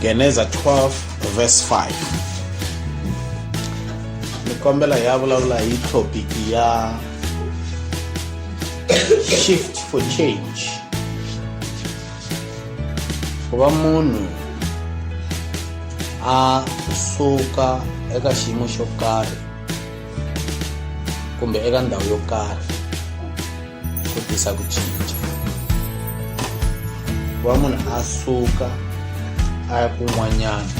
Geneza 12 verse 5 ni kombela hi ya vulavula hi topic ya shift for change ku va munhu a suka eka xiyimo xo karhi kumbe eka ndhawu yo karhi ku tisa ku cinca ku va munhu a suka a ya kun'wanyana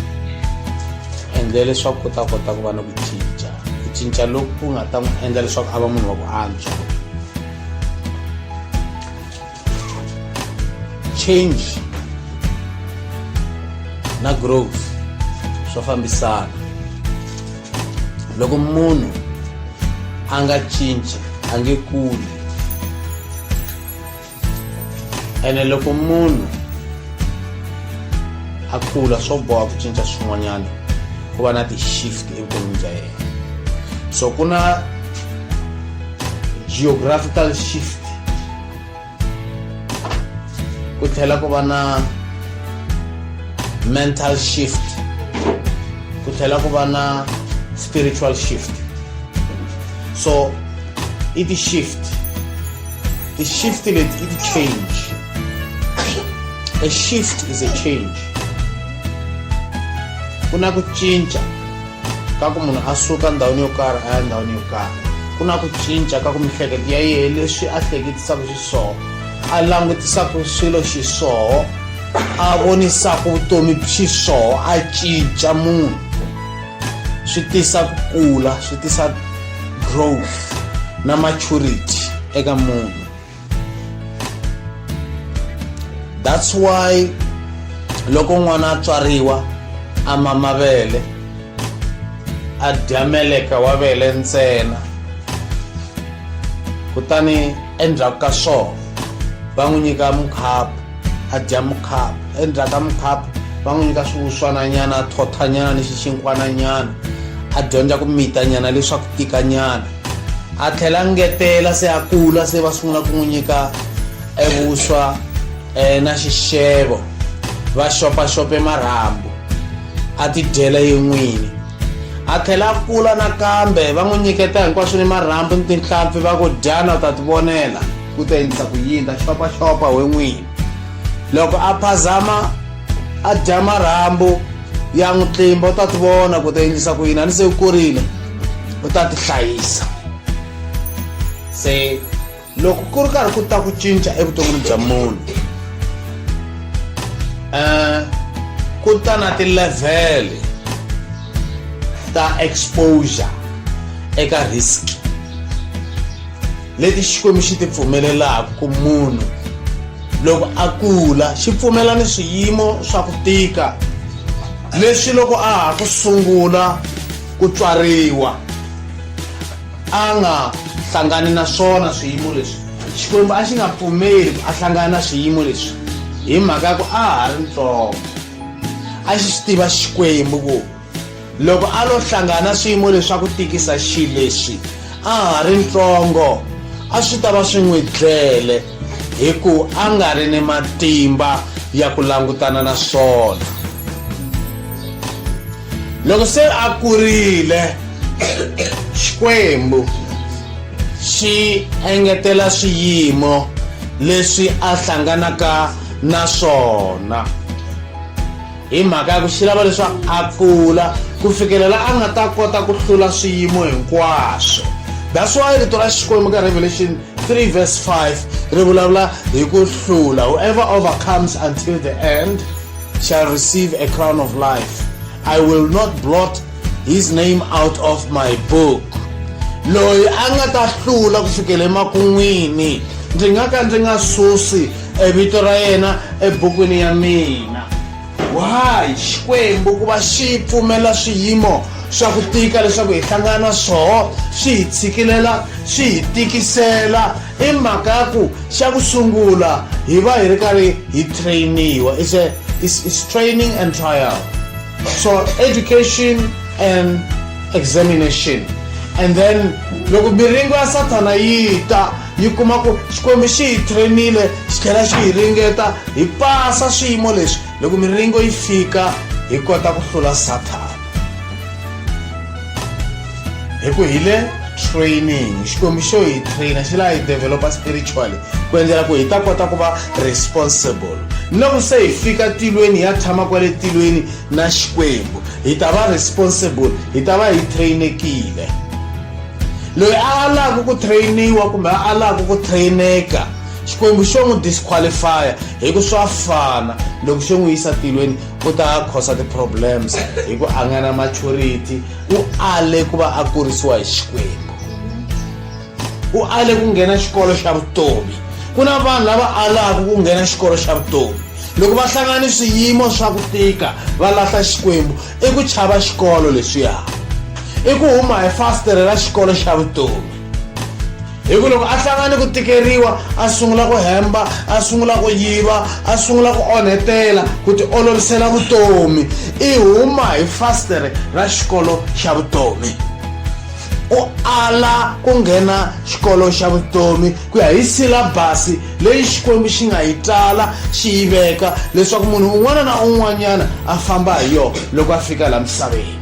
endle leswaku ku ta kota ku va na ku cinca ku cinca loku ku nga ta n'wi endla leswaku a va munhu wa ku antswa change na growth swa fambisana loko munhu a nga cinci a nge kuli ene loko munhu a kula swo boha ku cinca swin'wanyana ku va na ti-shift evuton'wini bya yena so ku na geographical shift ku tlhela ku va na mental shift ku tlhela ku va na spiritual shift so i ti-shift ti-shift leti i ti-change a shift is a change ku na ku cinca ka ku munhu a suka ndhawini yo karhi a ya ndhawini yo karhi ku na ku cinca ka ku mihleketo ya yehe leswi a hleketisaka xiswoho a langutisaka swilo xiswoho a vonisaka vutomi xiswoho a cinca munhu swi tisa ku kula swi tisa growth na maturity eka munhu that's why loko n'wana a tswariwa a mama vele a dya meleka wa vele ntsena kutani endzhaku ka swona va n'wi nyika mukhapu a dya mukhapu endzhaku ka mukhapu va n'wi nyika swiwuswananyana a thothanyana ni xixinkwananyana a dyondza ku mitanyana leswaku tikanyana a tlhela a ngetela se a kula se va sungula ku n'wi nyika evuswa um na xixevo va xopaxope marhambu a ti dyela yi n'wini a tlhela a kula nakambe va n'wi nyiketa hinkwaswo ni marhambu ni tinhlampfi va ku dyana u ta ti vonela ku ta endlisa ku yini ta xopaxopa we n'wini loko a phazama a dya marhambu ya n'wi tlimba u ta ti vona ku ta endlisa ku yini a ni se u kurile u ta ti hlayisa se loko ku ri karhi ku ta ku cinca evuton'wini bya munhu um ku ta na ti-level ta exposure eka risk leti xikwembu xi ti pfumelelaka ku munhu loko a kula xi pfumela ni swiyimo swa ku tika leswi loko a ha ku sungula ku tswariwa a nga hlangani na swona swiyimo leswi xikwembu a xi nga pfumeli ku a hlangana na swiyimo leswi hi mhaka ya ku a ha ri ntsongo a xi xi tiva xikwembu ku loko a lo hlangana swiyimo leswa ku tikisa xi leswi a ha ri ntsongo a swi ta va swi n'wi dlele hi ku a nga ri ni matimba ya ku langutana na swona loko se a kurile xikwembu xi engetela swiyimo leswi a hlanganaka na swona hi mhaka ya ku xi lava leswaku a kula ku fikelela a nga ta kota ku hlula swiyimo hinkwaswo that's why rito ra xikwembu ka revelation 3 verse 5 ri vulavula hi ku hlula whoever overcomes until the end shall receive a crown of life i will not blot his name out of my book loyi a nga ta hlula ku fikele emakun'wini ndzi nga ka ndzi nga susi e vito ra yena ebukwini ya mina why xikwembu ku va xi pfumela swiyimo swa ku tika leswaku hi hlangana na swoho swi hi tshikilela swi hi tikisela i mhaka ya ku xa ku sungula hi va hi ri karhi hi trainiwa is a is, is training and trial so education and examination and then loko miringo ya sathana yi ta yi kuma ku xikwembu xi hi trainile xi tlhela xi hi ringeta hi pasa swiyimo leswi loko miringo yi fika hi kota ku hlula sathana hi ku hi le training xikwembu xo hi traina xi laha hi developa spiritually ku endlela ku hi ta kota ku va responsible loko se hi fika tilweni ya tshama kwale tilweni na xikwembu hi ta va responsible hi ta va hi trainekile loyi a alaka ku trainiwa kumbe a alaka ku traineka xikwembu xo n'wi disqualifya hi ku swa fana loko xo n'wi yisa tilweni ku ta khosa ti-problems hi ku a nga na maturity u ale ku va a kurisiwa hi xikwembu u ale ku nghena xikolo xa vutomi ku na vanhu lava alaka ku nghena xikolo xa vutomi loko va hlangana ni swiyimo swa ku tika va lahla xikwembu i ku chava xikolo leswiya i ku huma hi fastere ra xikolo xa vutomi hi ku loko a hlangani ku tikeriwa a sungula ku hemba a sungula ku yiva a sungula ku onhetela ku ti olovisela vutomi i huma hi fastere ra xikolo xa vutomi u ala ku nghena xikolo xa vutomi ku ya hi silabasi leyi xikwembu xi nga yi tala xi yi veka leswaku munhu un'wana na un'wanyana a famba hi yona loko a fika laha misaveni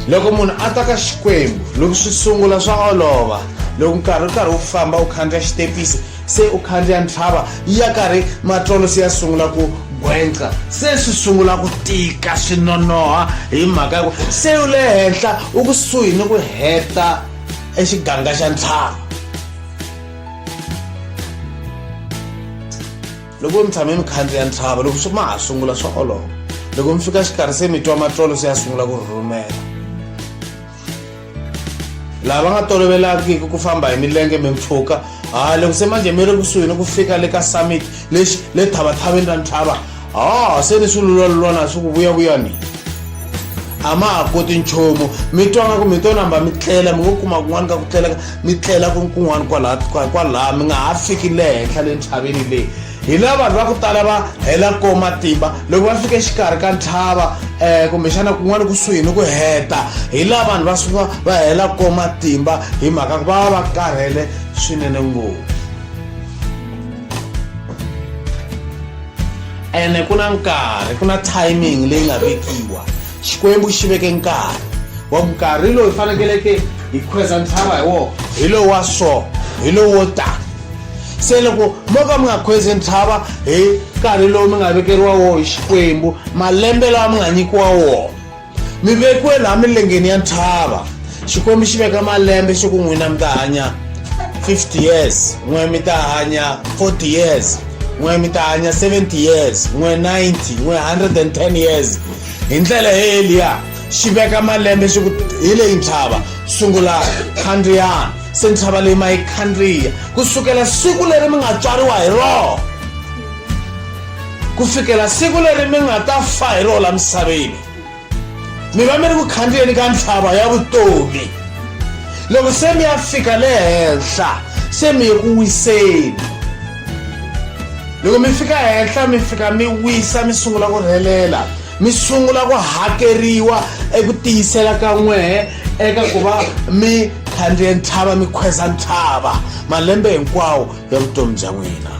loko munhu a ta ka xikwembu loko swi sungula swa olova loko nkarhi u karhi wu famba u khandziya xitepisi se u khandziya ntlhava ya karhi matlolo se ya sungula ku gwenca se swi sungula ku tika swi nonoha hi mhaka ya ku se u le henhla u kusuhi ni ku heta i xiganga xa ntlhanu loko mi tshame mi khandziya ntlhava loko swi ma ha sungula swa olova loko mi fika xikarhi se mi twa matlolo se ya sungula ku rhurhumela laha va nga tolovelangiki ku famba hi milenge mi mpfhuka ha loko se manje mi ri kusuhi ni ku fika le ka summit lexi le thavathaveni ra ntlhava ha ah, se ni swi lulwalulwana swi ku vuyavuya ni a ma ha koti nchumu mi twa nga ku mi to namba mi tlela mi ngo kuma kun'wana ka ku tlela mi tlela kun'wana kwalaha mi nga ha fiki le henhla le ntlhaveni leyi hi la vanhu va ku tala va hela ko matimba loko va fika exikarhi ka ntlhava um kumbexana kun'wana kusuhi ni ku heta hi la vanhu va suka va hela ko matimba hi mhaka ku va va va karhele swinene ngopfu ene ku na nkarhi ku na timing leyi nga vekiwa xikwembu xi veke nkarhi wa nkarhi lowu hi fanekeleke hi khweza ntshava hi wona hi lowu wa so hi lowu wo tani se loko mo ka mi nga khwezi ntshava hi nkarhi lowu mi nga vekeriwa wona hi xikwembu malembe lawa mi nga nyikiwa wona mi vekiwe laha milengeni ya nthava xikwembu xi veka malembe xi ku n'wina mi ta hanya 50 years n'we mi ta hanya 40 years n'we mi ta hanya 70 years n'we 90 n'we 110 years hi ndlela he eliya xi veka malembe xi ku hi leyi ntshava sungula khandriyana se ntshava leyi ma yi khandriya ku sukela siku leri mi nga tswariwa hi rona ku fikela siku leri mi nga ta fa hi rona la misaveni mi va mi ri ku khandziyeni ka ntlhava ya vutomi loko se mi ya fika le henhla se mi ye ku wiseni loko mi fika henhla mi fika mi wisa mi sungula ku rhelela mi sungula ku hakeriwa eku tiyisela ka n'wehe eka ku va mi khandziye ntshava mi khweza ntshava malembe hinkwawo ya vutomi bya n'wina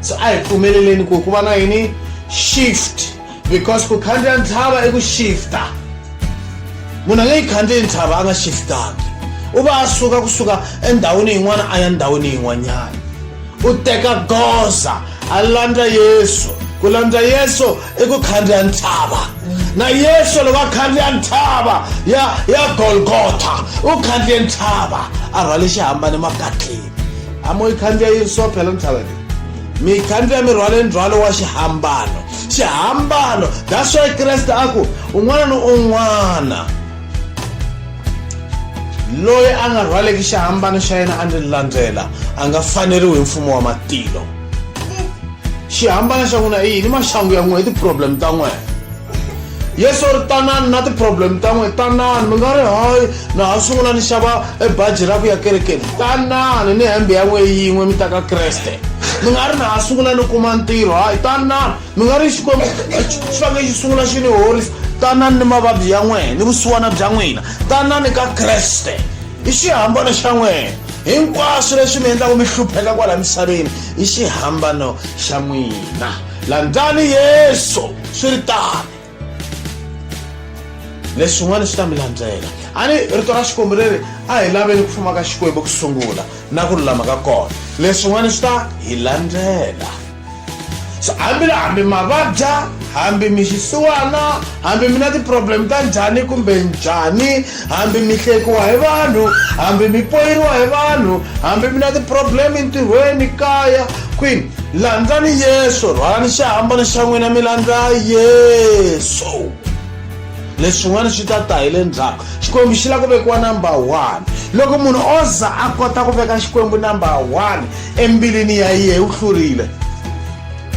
so a hi pfumeleleni ku ku va na yini shift because ku khandziya ntshava i ku shifta munhu a nge yi khandziyi ntshava a nga shiftangi u va a suka kusuka endhawini yin'wana a ya ndhawini yin'wanyana u teka goza a landza yesu ku landza yesu i ku khandziya ntshava na yesu loko a khandziya ntshava ya ya golgotha u khandziye ntshava a rhwale xihambane makatleni a mo yi khandziya yi so phela ntshava leyi mi yi khandziya mi rhwale ndzhwalo wa xihambano xihambano that's why kreste a ku un'wana ni un'wana loyi a nga rhwaleki xihambano xa yena a ndzi landzela a nga faneriwi hi mfumo wa matilo xihambana xa n'wina i yini maxangu ya n'wina i ti-problem ta n'wina yesu ri tanani na ti-problem ta n'wina tanani mi nga ri hayi na ha sungula ni xava e baji ra ku ya kerekeni tanani ni hembe ya n'wina yin'we mi ta ka kreste mi nga ri na ha sungula ni kuma ntirho hayi tanani mi nga ri xikwembu xi fanele xi sungula xi ni horisa tanani ni mavabyi ya n'wina ni vusiwana bya n'wina tanani ka kreste i xihambana xa n'wina hinkwaswo leswi mi endlaka mi hlupheka kwala misaveni i xihambano xa n'wina landzani yesu swi ri tani leswin'wana swi ta mi landzela a ni rito ra xikwembu leri a hi laveni ku fuma ka xikwembu ku sungula na ku lulama ka kona leswin'wana swi ta hi landzela so hambi la hambi ma vabya hambi mi xisiwana hambi mi na ti-problem ta njhani kumbe njhani hambi mi hlekiwa hi vanhu hambi mi poyeriwa hi vanhu hambi mi na ti-problem entirhweni kaya kwini landzani yesu rhwalani xihambana xa n'wina mi landza yesu leswin'wana swi ta ta hi le ndzhaku xikwembu xi lava ku vekiwa number one loko munhu o za a kota ku veka xikwembu number one embilwini ya yena u hlurile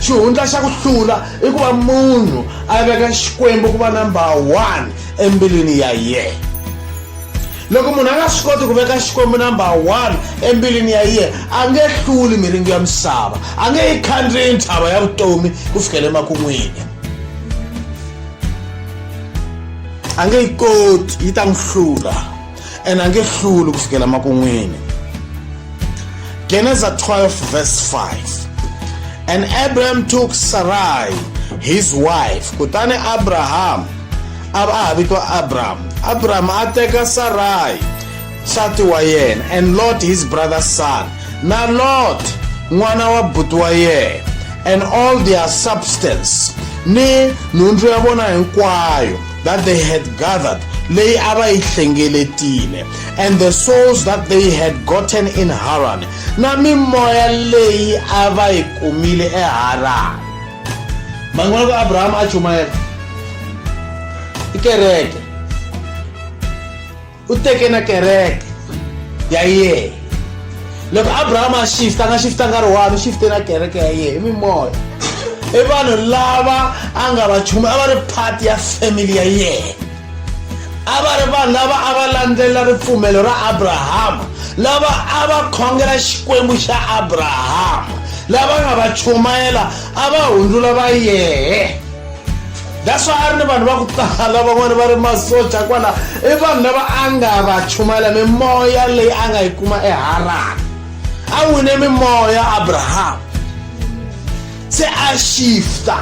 xihundla xa ku hlula i ku va munhu a veka xikwembu ku va number one embilwini ya yena loko munhu a nga swi koti ku veka xikwembu number one embilwini ya yena a nge hluli miringo ya misava a nge yi khandziyi ntshava ya vutomi ku fikela emakun'wini a nge yi koti yi ta n'wi hlula and a nge hluli ku fikela makun'wini geneza 12 verse 5 and abraham took sarai his wife kutani abraham a va a vitwa abraham abraham a teka sarai nsati wa yena and lot his brother's son na lot n'wana wa buti wa yena and all their substance ni nhundzu ya vona hinkwayo that they had gathered leyi a va yi hlengeletile and the souls that they had gotten in haran na mimoya leyi a va yi kumile eharani man'wana ka abrahama a chumayela i kereke u teke na kereke ya yena loko abrahama a shifta a nga shifta nkarhi wani u shifte na kereke ya yena i mimoya i vanhu lava a nga va chumi a va ri part ya family ya yena a va ri vanhu lava a va landzelela ripfumelo ra abrahama lava a va khongela xikwembu xa abrahama lava nga va chumayela a va hundzula va yehe that's why a ri ni vanhu va ku tala van'wana va ri masoja kwala i vanhu lava a nga va chumayela mimoya leyi a nga yi kuma eharani a wine mimoya abrahamu se a shifta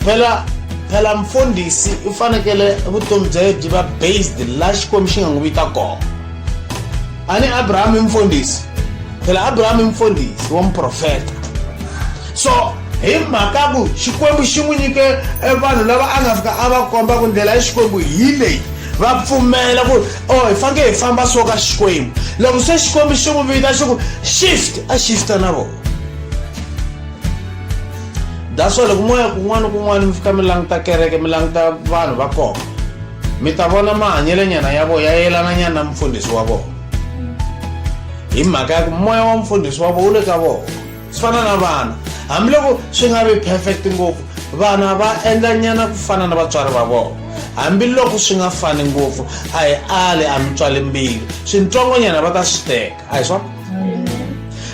phela phela mfundhisi u fanekele vutomi bya ye byi va based la xikwembu xi nga n'wi vita kona ani abraham i mfundhisi phela abraham i mfundhisi wa muprofeta so hi mhaka ku xikwembu xi n'wi nyike e vanhu lava a nga fika a va komba ku ndlela ya xikwembu hi leyi va pfumela ku o oh, hi faneke hi famba so ka xikwembu loko se xikwembu xi n'wi vita xi ku shift a shifta na vona that's why loko moya kun'wana kun'wana mi fika mi languta kereke mi languta vanhu va kona mi ta vona mahanyelenyana ya vona ya yelananyana na mufundhisi wa vona hi mhaka ya ku moya wa mufundhisi wa vona wu le ka vona swi fana na vana hambiloko swi nga vi perfect ngopfu vana va endlanyana ku fana na vatswari va vona hambiloko swi nga fani ngopfu a hi ali a mi tswale mbilu swintsongonyana va ta swi teka a hi swona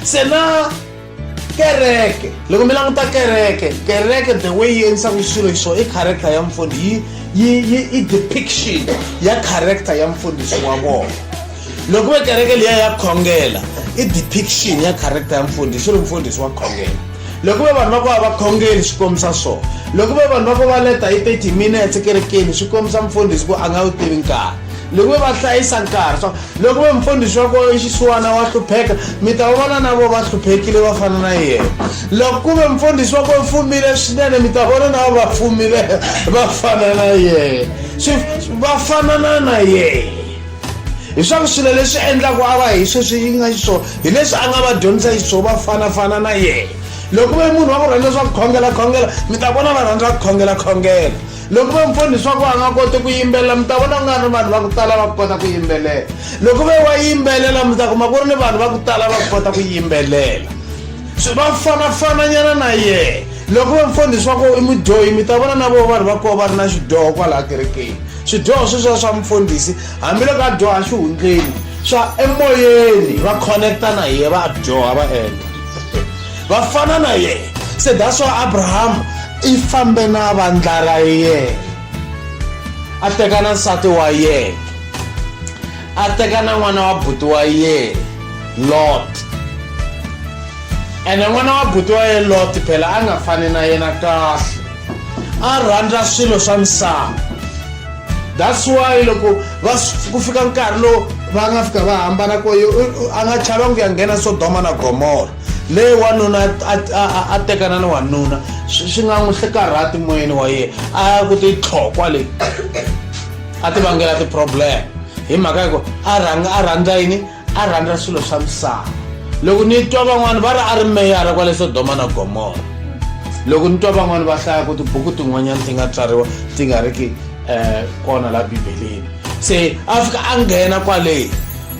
se na kereke loko mi languta kereke kereke the way yi endlisaka swilo hi swona i character ya mfundhisi yi yi i depiction ya character ya mfundhisi wa vona loko ve kereke liya ya khongela i depiction ya character ya mfundhisi swi ri mfundhisi wa khongela loko ve vanhu va ku va va khongeli swi kombisa swona loko ve vanhu va ku va leta hi 30 minutes ekerekeni swi kombisa mfundhisi ku a nga wu tivi nkarhi loko ve va hlayisa nkarhi swa loko ve mfundhisi wa kona xisiwana wa hlupheka mi ta va vona na vo va hluphekile va fana na yena loko ku ve mfundhisi wa kona fumile swinene mi ta vona na vo va fumile va fana na yena swi va fanana na yena hiswaku swilo leswi endlaku a va hi sweswi yi nga xiswona hi leswi a nga va dyondzisa xiswona va fanafana na yena loko ve munhu wa ku rhandza swa ku khongela khongela mi ta vona va rhandza ku khongela khongela loko ve mfoni leswaku a nga koti ku yimbelela mi ta vona ku nga ri vanhu va ku tala va ku kota ku yimbelela loko ve wa yimbelela mi ta kuma ku ri ni vanhu va ku tala va ku kota ku yimbelela va fanafananyana na yena loko ve mfoni leswaku i mudyohi mi ta vona na vo vanhu va koho va ri na xidyoho kwalaha kerekeni swidyoho sweswiwa swa mfundhisi hambiloko a dyoha xihundleni swa emoyeni va connecta na yena va dyoha va endla va fana na yena se that's why abrahama i fambe na vandla ra yena a teka na nsati wa yena a teka na n'wana wa buti wa yena lot ene n'wana wa buti wa yena lot phela a nga fani na yena kahle a rhandza swilo swa misava that's why loko va ku fika nkarhi lowu va nga fika va hambana ko a nga chava ku ya nghena sodoma na gomora leyi wanuna a tekana ni wanuna swi nga n'wi swi karhati moyeni wa yena a ya ku titlhokwa leyi a ti vangela ti-problem hi mhaka ya ku a rhanga a rhandza yini a rhandza swilo swa misava loko ni twa van'wani va ri a ri meyara kwale sodoma na gomora loko ni twa van'wani va hlaya ku tibuku tin'wanyana ti nga tswariwa ti nga ri ki um kona la bibeleni se a fika a nghena kwaleyi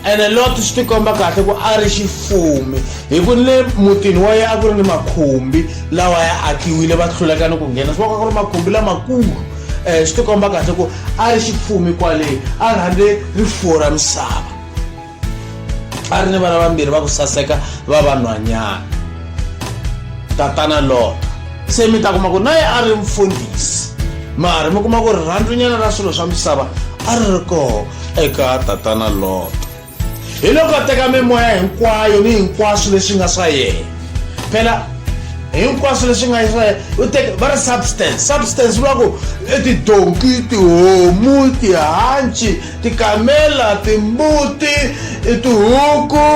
ene loti swi tikomba kahle ku a ri xifumi hi ku ni mutini wa yena a ku ri ni makhumbi lawa ya akiwile va hluleka ni ku nghena swi vaka ku ri makhumbi lamakulu um swi tikomba kahle ku a ri xifumi kwaleyi a rhandze rifuwo ra misava a ri ni vana vambirhi va ku saseka va vanhwanyana tatana lota se mi ta kuma ku na ye a ri mfundhisi mara mi kuma ku rirhandzunyana ra swilo swa misava a ri ri kona eka tatana lot hi loko a teka mimoya hinkwayo ni hinkwaswo leswi nga swa yena phela hinkwaswo leswi nga swa yena u teke va ri substance substance vula ku i tidonki tihomu tihanci tikamela timbuti i tihuku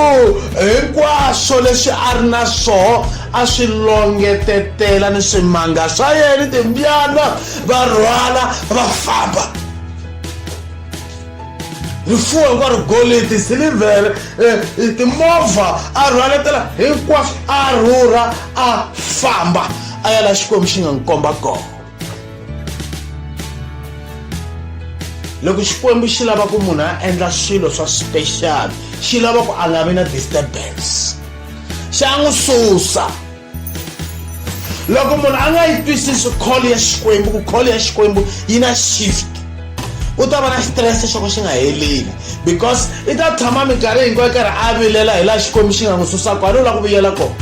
hinkwaswo leswi a ri na swoho a swi longetetela ni swimanga swa yena ni timbyana va rhwala va famba rifuwo hinkwaro golidi silivhere eh, eh, timovha a rhwaletela hinkwaswo a rhurha a famba a ya la xikwembu xi nga n'wi komba kona loko xikwembu xi lava ku munhu a endla swilo swa special xi lava ku a nga vi na disturbance xa n'wi susa loko munhu a nga yi twisisi kholo ya xikwembu ku kholo ya xikwembu yi na shift u ta va na xitirese xo ka xi nga heleli because i ta tshama minkarhi hinkwayo karhi a vilela hi laha xikwembu xi nga n'wi susaka a ni u lava ku vuyela kona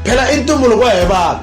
phela i ntumbuluko wa hi vanhu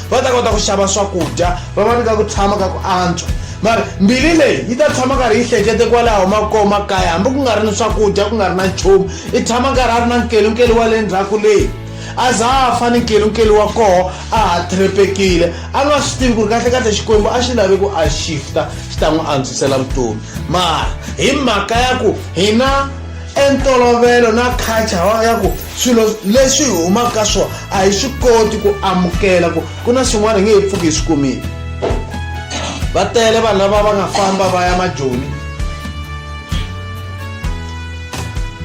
va ta kota ku xava swakudya va va nyika ku tshama ka ku antswa mara mbilu leyi yi ta tshama karhi yi hlekete kwalaho makoo makaya hambi ku nga ri ni swakudya ku nga ri na nchumu i tshama karhi a ri na nkelunkelu wa le ndzhaku leyi a za a fa ni nkelunkelu wa koho a ha threpekile a nga swi tivi ku ri kahlekahle xikwembu a xi lavi ku a shifta xi ta n'wi antswisela vutomi mara hi mhaka ya ku hina entolovelo na culture ya ku swilo leswi hi humaka ka swona a hi swi koti ku amukela ku ku na swin'wana hi nge he pfuki hi swi kumile va tele vanhu lava va nga famba va ya majoni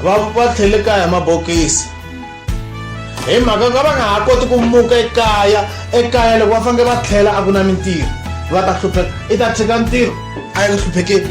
va va tlhele kaya mabokisi hi mhaka ka va nga ha koti ku muka ekaya ekaya loko va fanele va tlhela a ku na mintirho va ta hlupheka i ta tshika ntirho a yi hluphekeli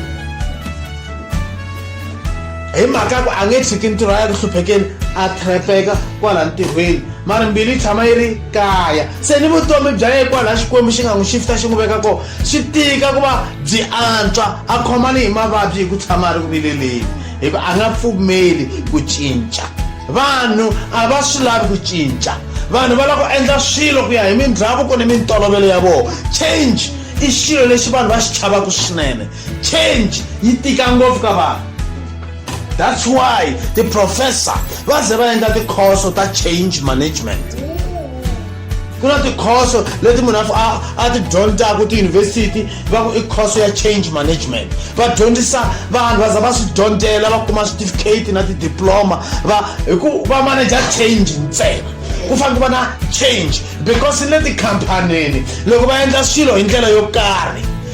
hi mhaka ku a nge tshiki ntirho a ya ku hluphekeni a trepeka kwala ntirhweni mara mbilu yi tshama yi ri kaya se ni vutomi bya ye kwala xikwembu xi nga n'wi xifita xi n'wi veka kona swi tika ku va byi antswa a khomani hi mavabyi hi ku tshama a ri ku vileleni hikuva a nga pfumeli ku cinca vanhu a va swi lavi ku cinca vanhu va lava ku endla swilo ku ya hi mindhavuko ni mintolovelo ya vona change i xilo lexi vanhu va xi chavaka swinene change yi tika ngopfu ka vanhu that's why tiprofessor va ze va endla tikhoso ta change management ku na tikhoso leti munhu a ti dyondzaka tiyunivhesiti va ku i khoso ya change management va dyondzisa vanhu va za va swi dyondzela va kuma switifiketi na tidiploma va hi ku va manager change ntsena ku fanele ku va na change because le tikhamphanini loko va endla swilo hi ndlela yo karhi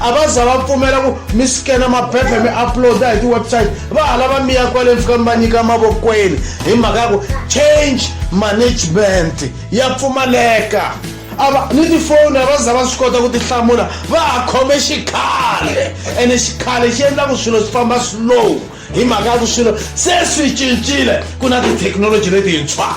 a va za va pfumela ku mi sikena maphepha mi uploada hi ti-website va hala va miya kwale mi fika mi va nyika emavokweni hi mhaka ya ku change management ya pfumaleka ava ni tifoni a va za va swi kota ku ti hlamula va ha khome xikhale ene xikhale xi endla ku swilo swi famba slow hi mhaka ya ku swilo se swi cincile ku na tithekinoloji letintshwa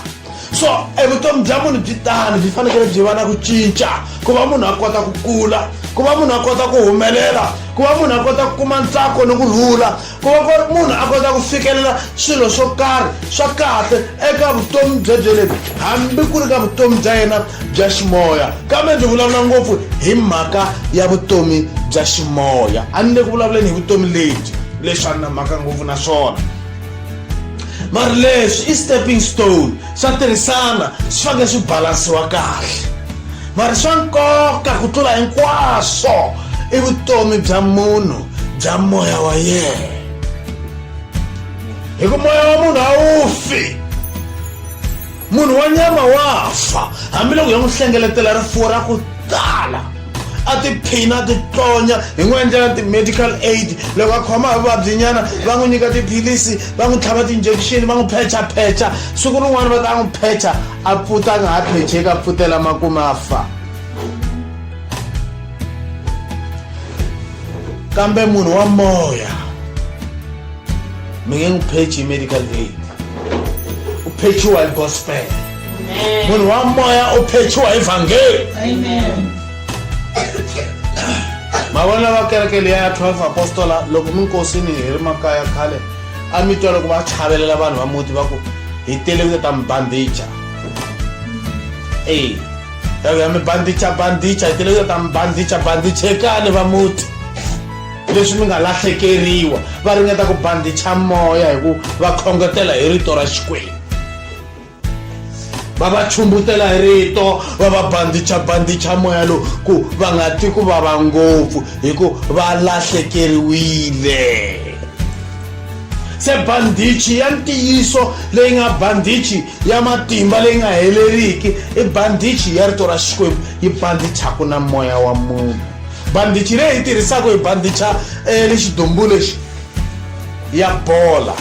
so evutomi bya munhu byi tani byi fanekele byi va na ku cinca ku va munhu a kota ku kula ku va munhu a kota ku humelela ku va munhu a kota ku kuma ntsako ni ku rhula ku va munhu a kota ku fikelela swilo swo karhi swa kahle eka vutomi byebyelembi hambi ku ri ka vutomi bya yena bya ximoya kambe ndzi vulavula ngopfu hi mhaka ya vutomi bya ximoya a ni le ku vulavuleni hi vutomi lebyi leswi a ni na mhaka ngopfu na swona mari leswi i stepping stone swa tirhisana swi fanele swi balansiwa kahle mari swa nkoka ku tlula hinkwaswo i vutomi bya munhu bya moya wa yena hi ku moya wa munhu a wu fi munhu wa nyama wa fa hambiloko ya n'wi hlengeletela rifuwo ra ku tala a tiphina a titonya hi n'wi endlela ti-medical aid loko a khoma hi vuvabyinyana va n'wi nyika tiphilisi va n'wi tlhava ti-injection va n'wi phechaphecha siku rin'wana va ta n'wi phecha a pfuta a nga ha phecheki a pfutela makume a fa kambe munhu wa moya mingengiphetshi i-medical aid uphethiwa i-gospel munhu wa moya u phethiwa evhangeli mavona va kereke leyi ya 12 apostola loko mi nkosini hi ri makaya khale a mi twa loko va chavelela vanhu va muti va ku hi tele ku ta mi bandicha e ya mi bandicha bandicha hi tele ku ta mi bandicha bandichekani va muti leswi mi nga lahlekeriwa va ringeta ku bandicha moya hi ku va khongotela hi rito ra xikwembu va va chumbutela hi rito va va bandicha bandicha moya lowu ku va nga ti ku vava ngopfu hi ku va lahlekeriwile se bandichi ya ntiyiso leyi nga bandichi ya matimba leyi nga heleriki i bandichi ya rito ra xikwembu yi bandichaka na moya wa munhu bandichi leyi hi tirhisaka hi bandicha eh, le xidombu lexi ya bola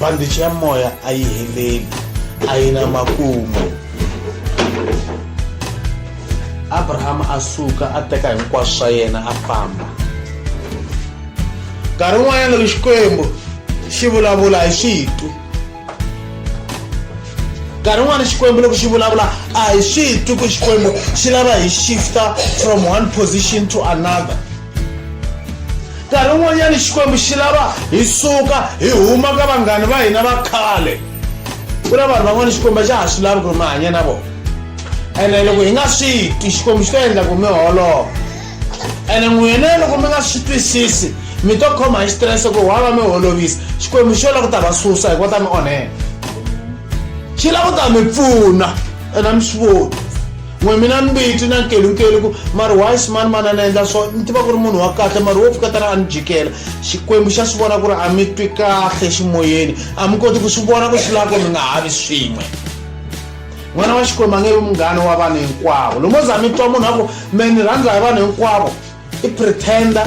bandichi ya moya a yi heleli a yi na makumu abrahama a suka a teka hinkwaswo swa yena a famba nkarhi wun'wanyana loko xikwembu xi vulavula hi switu nkarhi wun'wana xikwembu loko xi vulavula a hi swi hi twi ku xikwembu xi lava hi shifta from one position to another nkarhi wun'wanyana xikwembu xi lava hi suka hi huma ka vanghani va hina va khale ku na vanhu van'wana xikwembu xa ha swi lavi ku ri mi hanya na vona ene loko hi nga swi twi xikwembu xi ta endla ku mi holova ene n'wina loko mi nga swi twisisi mi to khoma hi xitirese ku wa va mi holovisa xikwembu xi yo la ku ta va susa hikuva ta mi onhela xi la ku ta mi pfuna ene a mi swi voni n'we mina ni mbiti na nkelunkelu ku mari why ximani mani a ni endla swo ni tiva ku ri munhu wa kahle mari wo pfuketana a ni jikela xikwembu xa swi vona ku ri a mi twi kahle ximoyeni a mi koti ku swi vona ku swi lava ku mi nga ha vi swin'we n'wana wa xikwembu a nge vi munghana wa vanhu hinkwavo lomo za mi twa munhu a ku me ni rhandza hi vanhu hinkwavo i pretender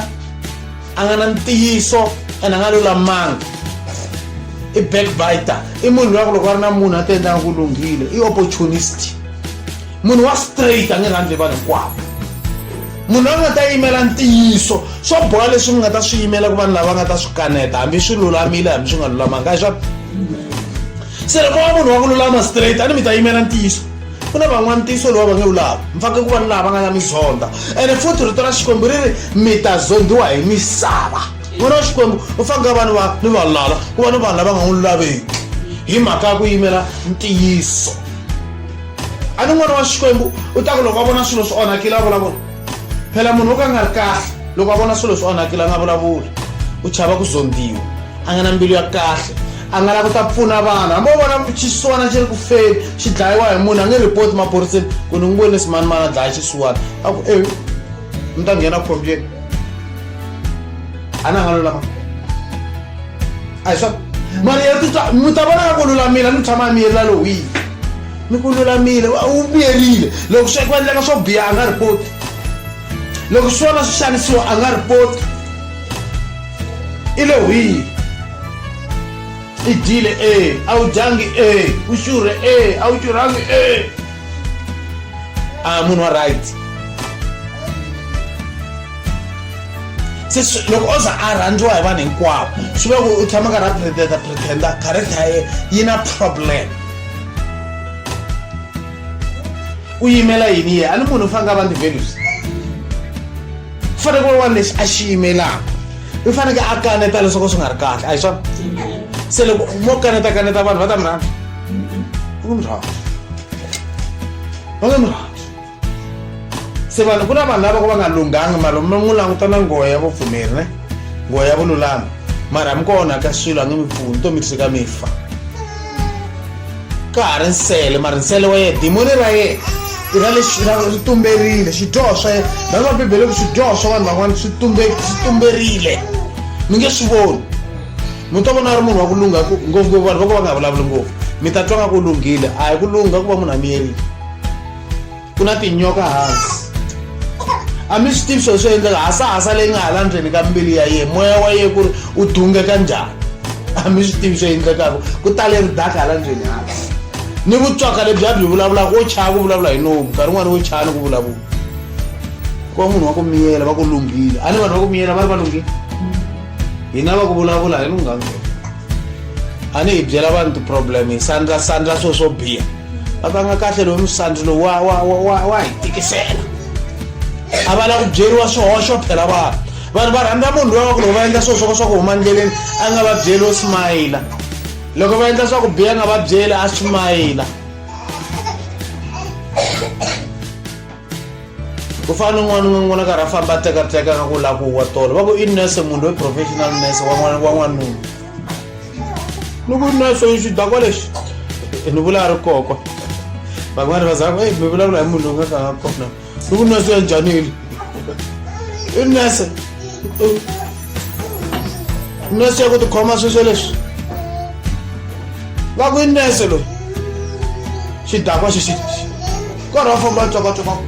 a nga na ntiyiso ene a nga lulamanga i backbiter i munhu loyi a ku loko a ri na munhu a ti endlanga ku lunghile i opportunist munhu wa straight a nge rhandzi hi vanhu hinkwavo munhu loyi a nga ta yimela ntiyiso swo boha leswi mi nga ta swi yimela ku vanhu lava nga ta swi kaneta hambi swi lulamile hambi swi nga lulamanga hi swa se loko wa munhu wa ku lulama straight a ni mi ta yimela ntiyiso ku na van'wana ntiyiso lowu va nge wu lava mi fanekele ku va ni laha va nga na mizonda ene futhi rito ra xikwembu ri ri mi ta zondiwa hi misava n'wana wa xikwembu u fanekele va ni va ni vanhu lala ku va ni vanhu lava nga n'wi lulaveki hi mhaka ya ku yimela ntiyiso a ni n'wana wa xikwembu u ta ku loko a vona swilo swi onhakile a vulavula phela munhu wo ka nga ri kahle loko a vona swilo swi onhakile a nga vulavuli u chava ku zondiwa a nga na mbilu ya kahle a nga la ku ta pfuna vanhu hambi u vona xisiwana xi ri ku feni xi dlayiwa hi munhu a nge report maphoriseni ku ni n'wi vone simanimani a dlaya xisiwana a ku e mi ta nghena khombyeni a na nga lulama a hi swa mari ya titwa mi ta vona nga ku lulamile a ni tshama a miyelila lowiyi mi ku lulamile u vuyerile loko swi ku endleka swo biha a nga ripoti loko swi vona swi xanisiwa a nga ripoti i le hwihi i dyile e a wu dyangi e u xurhe e a wu xurhangi e a munhu wa right se loko o za a rhandziwa hi vanhu hinkwavo swi ve ku u tshama karhi a pretenda pretenda character ya ye yi na problem u yimela yini ye a ni munhu u faneke a va ndivenus u faneke wa wani lexi a xi yimelaka u faneke a kaneta leswaku swi nga ri kahle a hi swona se loko mo kaneta kaneta vanhu va ta mi rhandza va nge mi rhandza va nge mi rhandza se vanhu ku na vanhu lava ko va nga lunghanga mara mi n'wi languta na nghohe ya vupfumeri ne nghohe ya vululami mara mi ko onhaka swilo a nge mi pfuni to mi tshika mi fa ka ha ri nsele mara nsele wa yena dimoni ra yena i ra lexi ri tumberile xidyoho swa yena rhanga va bibele ku swidyoho swa vanhu van'wana swi tumberile mi nge swi voni mi ta vona a ri munhu wa ku lungha ngopfungopfu vanhu va ku va nga vulavuli ngopfu mi ta twa nga ku lunghile a hi ku lungha ku va munhu a miyerile ku na tinyoka hansi a mi swi tivi swilo swi endleka hasahasa leyi nga hala ndzeni ka mbilu ya yena moya wa yena ku ri u dungeka njhani a mi swi tivi swi endlekaka ku tale ri daka hala ndzeni hansi ni vutswaka lebyi a byi vulavulaka wo chaya ku vulavula hi nomu nkarhi wun'wana wo chaya ni ku vulavula ku va munhu wa ku miyela va ku lunghile a ni vanhu va ku miyela va ri va lunghile hina va ku vulavula hi lunghangela a ni hi byela vanhu ti-problem hi sandla sandla swilo swo biha va va nga kahle lowu musandzi lowu wa wa wa wa hi tikisela a va la ku byeriwa swihoxo phela vanhu vanhu va rhandza munhu loyi wa ku loko va endla swilo swo ka swa ku huma ndleleni a nga va byeli wo smayila loko va endla swa ku biya nga va byeli a smayila ku fana ni n'wana un'we n'wana karhi a famba a tekateka nga ku la ku wa tolo va ku i nurse munhu loyi professional nurse wa n'wanuna ni ku nurse yi xidakwa lexi ni vula a ri kokwa van'wana va zaka mi vulavula hi munhu loyi nga ka nga kona ni ku nurse ya njanile i nurse nurse ya ku tikhoma sweswo leswi va ku i nurse loyi xidakwa xi xi kwara wa famba tswakatswaka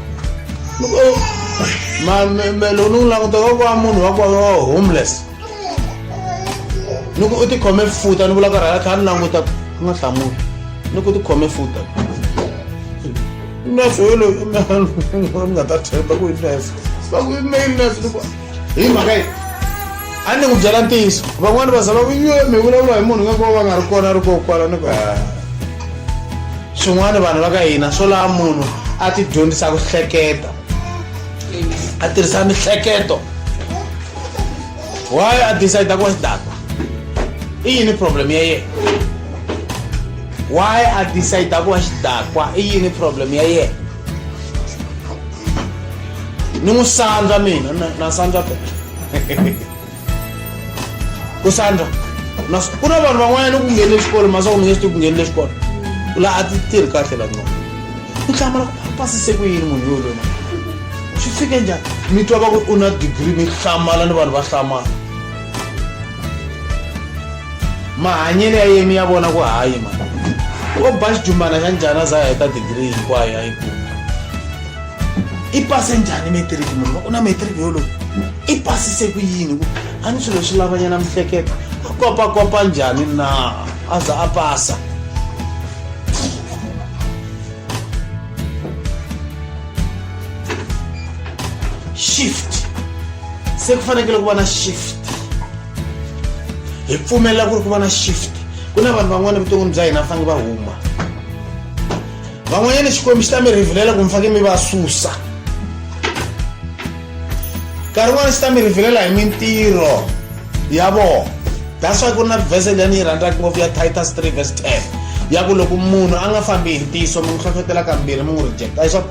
mamelo ni n'wi languta ka kwa munhu wa kwa homeless ni ku u tikhome futa ni vula ka rhala kha ni languta ku nga hlamuli ni ku tikhome futa nurse yoloyo ni nga ta themba ku yi nurse va ku i mail nurse ni ku hi mhaka yi a ni ku byela ntiyiso van'wani va za va kuyiwe mi vulavula hi munhu nga ku va va nga ri kona a ri ko kwala ni ku ah. swin'wana vanhu va ka hina swo laha munhu a ti dyondzisa ku hleketa a tirhisa mihleketo why a decide ku sdata i yini problem ya yena why a decide ku va xidakwa i yini problem ya yena ni n'wi sandza mina na sandza bela ku sandza ku na vanhu van'wanyana ku nghenile xikolo masiku ni nge swi tivi ku nghenile xikolo laha a ti tirhi kahle la nona ku hlamula ku pasise ku yini munhu loyi lona swi fike njhani mi twa va ku u na degree mi hlamala ni vanhu va hlamala mahanyelo ya yemi ya vona ku hayi mani o ba xijumbana xa njhani a za a heta degree hinkwayo a yi kuma i pase njhani metiriki munhu va ku na metiriki yoloyi i pasise ku yini ku a ni swilo swi lavanyana mihleketo a kopakopa njhani na a za a pasa shift se ku fanekele ku va na shift hi pfumelela ku ri ku va na shift ku na vanhu van'wana evuton'wini bya hina va fanele va huma van'wanyana xikwembu xi ta mi rhivilela ku mi fake mi va susa nkarhi wun'wana xi ta mi rhivilela hi mintirho ya vona that's why ku ri na vhese leyi ni yi rhandzaka ngopfu ya titus 3 vs 10 ya ku loko munhu a nga fambi hi ntiyiso mi n'wi hlohlotela kambirhi mi n'wi rejecta hi swona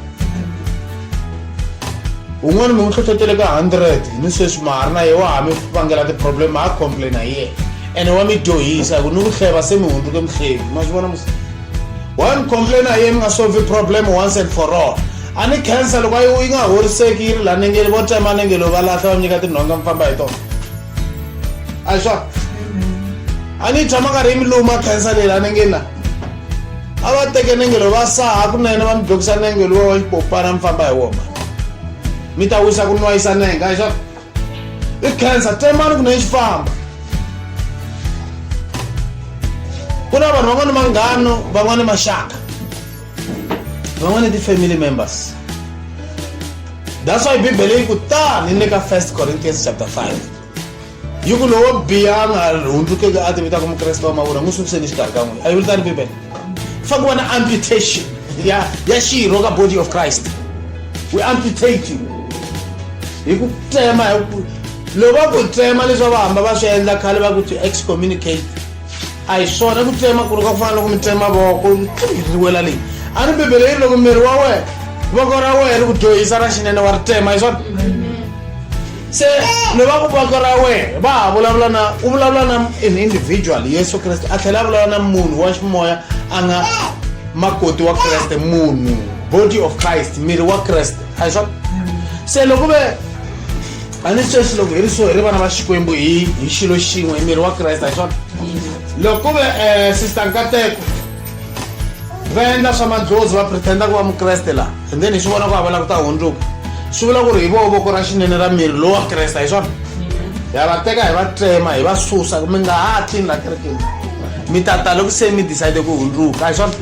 un'wana mi n'wi hlohlotele ka hundred ni sweswi ma ha ri na ye wa ha mi vangela ti-problem ma ha complaina hi yena ene wa mi dyohisa hi ku ni ku hleva se mi hundzuke mihlevi ma swi vona one complain a yi mi nga solve problem once and for all a ni cancer loko ayi yi nga horiseki yi ri la nengeli vo tsema nengeli va lahla va mi nyika tinhonga mi famba hi tona a hi swona a ni yi tshama karhi yi mi luma cancer leyi la nengeli na a va teke nengelo va saha kunene va mi dokisa nengelo wa wa xipopana mi famba hi woma mi ta wisa ku nwayisa nenga hi swona i cancer tsemani ku na yi xifamba ku na vanhu van'wana manghano van'wana maxaka van'wana ti-family members that's why bibele yi ku tani ni le ka first corinthians chapter 5 yi ku lowo biya a nga hundzukeki a tivitaka mukreste wa mavula n'wi sukiseni xikarhi ka n'wina a yi vuli tani bibele fa ku va na amputation ya ya xirho ka body of christ we amputate you hi ku tsema hi ku loko va ku tsema leswi va hamba va swi endla khale va ku to excommunicate a hi swona ku tsema ku ri ka ku fana loko mi tsema voko ri wela leyi a ni bibele yi ri loko miri wa wena voko ra wena ri ku dyohisa ra xinene wa ri tsema hi swona se ni va voko ra wena va ha vulavula na u vulavula na an individual yesu kreste a tlhela a vulavula na munhu wa ximoya a nga makoti wa kreste munhu body of christ miri wa kreste a hi swa se loko ve a ni sweswi loko hi ri so hi ri vana va xikwembu hi hi xilo xin'we hi miri wa kreste a hi swona loko ve um sister nkateko va endla swa madlodzi va pretenda ku va mukreste laha and then hi swi vona ku hava la ku ta hundzuka swi vula ku ri hi voho voko ra xinene ra miri lowu wa kresta hi swona ha va teka hi va tsema hi va susa mi nga ha tlini la kerekeni mi ta ta loko se mi decide ku hundzuka hi swona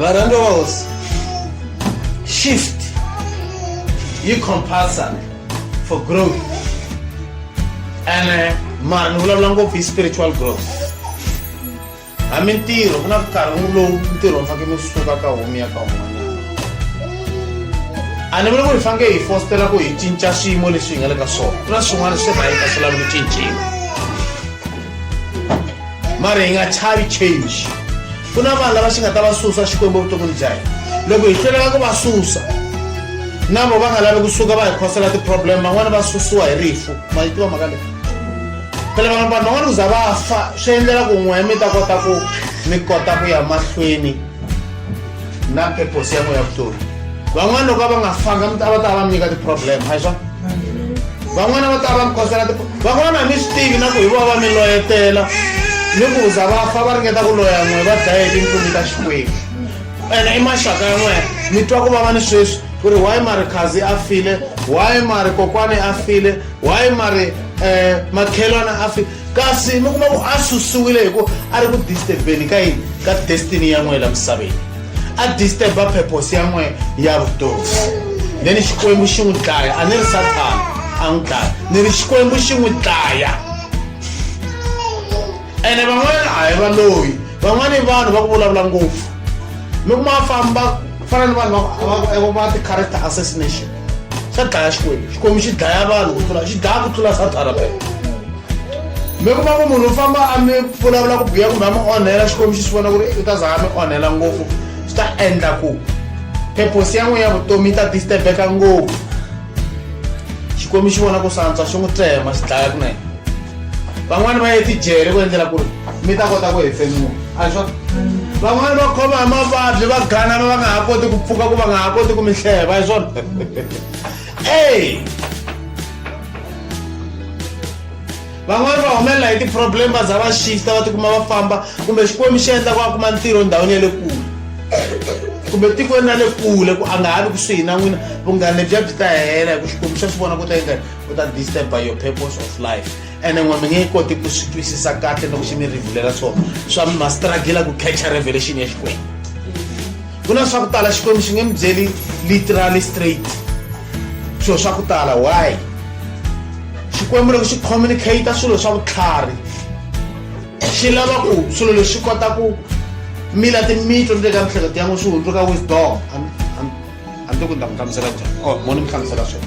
varhandzi va hosi shift yi compulsory for growth and uh, mara ni vulavula ngopfu hi spiritual growth ha mintirho ku na nkarhi n'wi lowu ntirho mi faneke mi suka ka homi ya ka un'wanyana a ni vuli ku hi faneke hi fostela ku hi cinca swiyimo leswi hi nga le ka swona ku na swin'wana swi rhayita swi lavi ku cinciwa mara hi nga chavi change ku na vanhu lava xi nga ta va susa xikwembu evuton'wini bya hina loko hi hlweleka ku va susa na vo va nga lavi kusuka va hi khosela ti-problem van'wani va susiwa hi rifu ma yi tiva maka leyi phela vanhu vanhu van'wana ku za va fa swi endlela ku n'we mi ta kota ku mi kota ku ya mahlweni na purpose ya n'we ya vutomi van'wana loko a va nga fanga mi ta va ta va mi nyika ti-problem hi swona van'wana va ta va mi kosela van'wana a mi swi tivi na ku hi vona va mi loyetela ni ku za va fa va ringeta ku loya n'we va dlaye tintlumi ta xikwembu ene i maxaka ya n'wena mi twa ku vava ni sweswi ku ri why marikhazi a file why marikokwani a file why mari um makhelwana a fi kasi mi kuma ku a susiwile hi ku a ri ku disturbeni ka yini ka destiny ya n'wehe la misaveni a disturba purpose ya n'wehe ya vutomi then xikwembu xi n'wi dlaya a ni ri sathana a n'wi dlaya ni ri xikwembu xi n'wi dlaya ene van'wana a hi va loyi van'wana i vanhu va ku vulavula ngopfu mi kuma va famba ku fana ni vanhu va ti-character assassination xa dlaya xikwembu xikwembu xi dlaya vanhu ku tlula xi dlaya ku tlula satana pe mi kuma ku munhu u famba a mi vulavula ku biya kumbe a mi onhela xikwembu xi swi vona ku ri u ta za a mi onhela ngopfu swi ta endla ku purpose ya n'wina ya vutomi yi ta disturbeka ngopfu xikwembu xi vona ku swantswa xi n'wi tsema xi dlaya kunene van'wani va ye tijele ku endlela ku ri mi ta kota ku hefemula a swa van'wani va khoma hi mavabyi va ganana va nga ha koti ku pfuka ku va nga ha koti ku mi hleva hi swona ey van'wani va humelela hi ti-problem va za va shifta va tikuma va famba kumbe xikwembu xi endla ku a kuma ntirho ndhawini ya le kule kumbe tikweni ra le kule ku a nga ha vi kusuhi na n'wina vunghana lebyiya byi ta hela hi ku xikwembu xa swi vona ku ta endla ku ta disturb by your purpose of life ene n'we mi nge koti ku swi twisisa kahle loko xi mi rivulela swona swa mi ma struggle ku catcha revelation ya xikwembu ku na swa ku tala xikwembu xi nge mi byeli literally straight swilo swa ku tala why xikwembu loko xi communicate swilo swa vutlhari xi lava ku swilo leswi kota ku mila timitlo le ka mihleketo ya n'wi swi hundzuka wisdom a ni ti ku ni ta mi hlamusela njhani o oh, mo ni mi hlamusela swona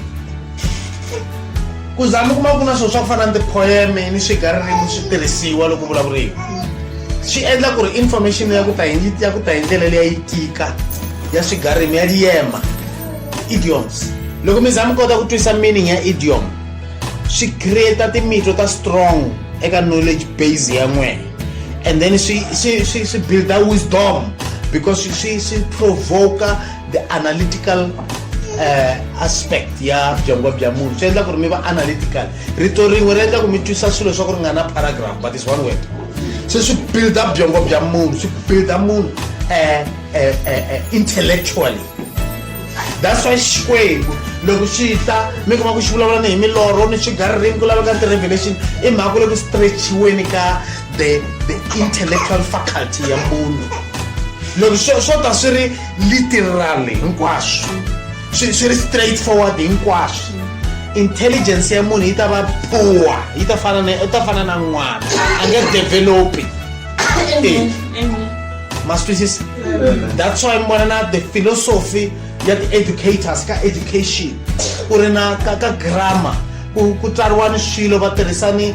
ku za mi kuma ku na swilo swa ku fana ni tipoeme ni swigaririmi swi tirhisiwa loko vulavuriwa swi endla ku ri information ya ku ta hi ya ku ta hi ndlela leyi ya yi tika ya swigarimi ya liyema idioms loko mi za mi kota ku twisa meaning ya idiom swi creata timitlo ta strong eka knowledge base ya n'wena and then swi swi swi swi builda wisdom because swi swi provoka the analytical uh, aspect ya byongo bya munhu swi endla ku ri mi va analytical rito rin'we ri endla ku mi twisa swilo swa ku ri nga na paragraph but is one word se swi build up byongo bya munhu swi build up munhu uh, uh, uh, intellectually that's why xikwembu loko xi ta mi kuma ku xi vulavula ni hi milorho ni swigaririmi ku laveka ti-revelation i mhaka ku le ku stretchiweni ka the the intellectual faculty ya munhu loko swo ta swi ri literally hinkwaswo swi swi ri straight forward hinkwaswo intelligence ya munhu yi ta va poor yi ta fana na ta fana na n'wana a nge developi ma swi twisisa that's why mi vona na the philosophy ya ti-educators ka education ku ri na ka ka grammar ku ku tsariwani swilo va tirhisani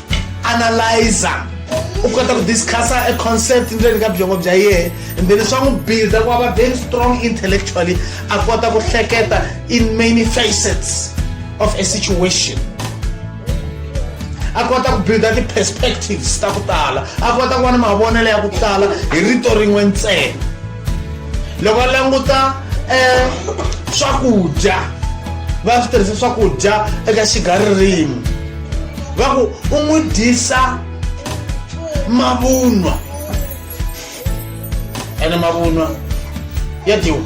analyzer u kota ku discussa a concept ndzeni ka byongo bya yehe and then swa n'wi builda ku va very strong intellectually a kota ku hleketa in many facets of a situation a kota ku builda ti-perspectives ta ku tala a kota ku va ni mavonelo ya ku tala hi rito rin'we ntsena loko a languta um swakudya va swi tirhisa swakudya eka xigaririmi va ku u n'wi dyisa mavunwa ene mavunwa ya dyiwa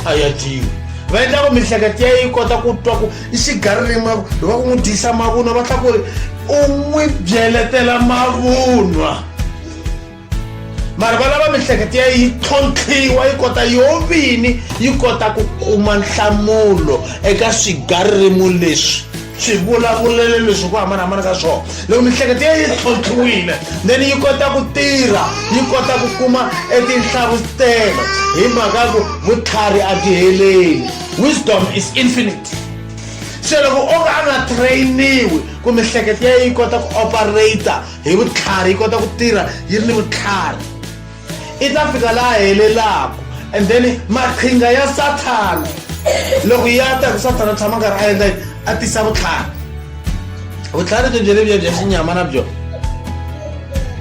a ya dyiwi va endla ku mihleketo ya yi kota ku twa ku i xigaririmi va ku n'wi dyisa mavunwa va tlha ku ri u n'wi byeletela mavunwa mara va lava mihleketo ya yi tlhontlhiwa yi kota yo vini yi kota ku kuma nhlamulo eka swigaririmo leswi swi vulavulele leswi ku hambanahambana ka swona loko mihleketo ya yi tlhontlhiwile then yi kota ku tirha yi kota ku kuma etinhlavutelo hi mhaka ku vutlhari a byi heleli wisdom is infinite se loko o ka a nga trainiwi ku mihleketo ya yi kota ku operator hi vutlhari yi kota ku tirha yi ri ni vutlhari i ta fika laha helelaku and then maqhinga ya sathana loko ya ta ku sathana u tshama karhi a endla yini a tisa vutlhari vutlhari byo byele bya bya xinyama na byo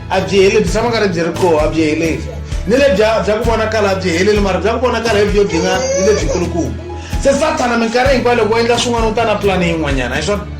a byi heli byi tshama karhi byi ri koho a byi heleli ni le bya bya ku vonakala a byi heleli mara bya ku vonakala hi byo byi nga ni lebyikulukumba se sathana minkarhi hinkwayo loko u endla swin'wana u ta na pulani yin'wanyana hi swona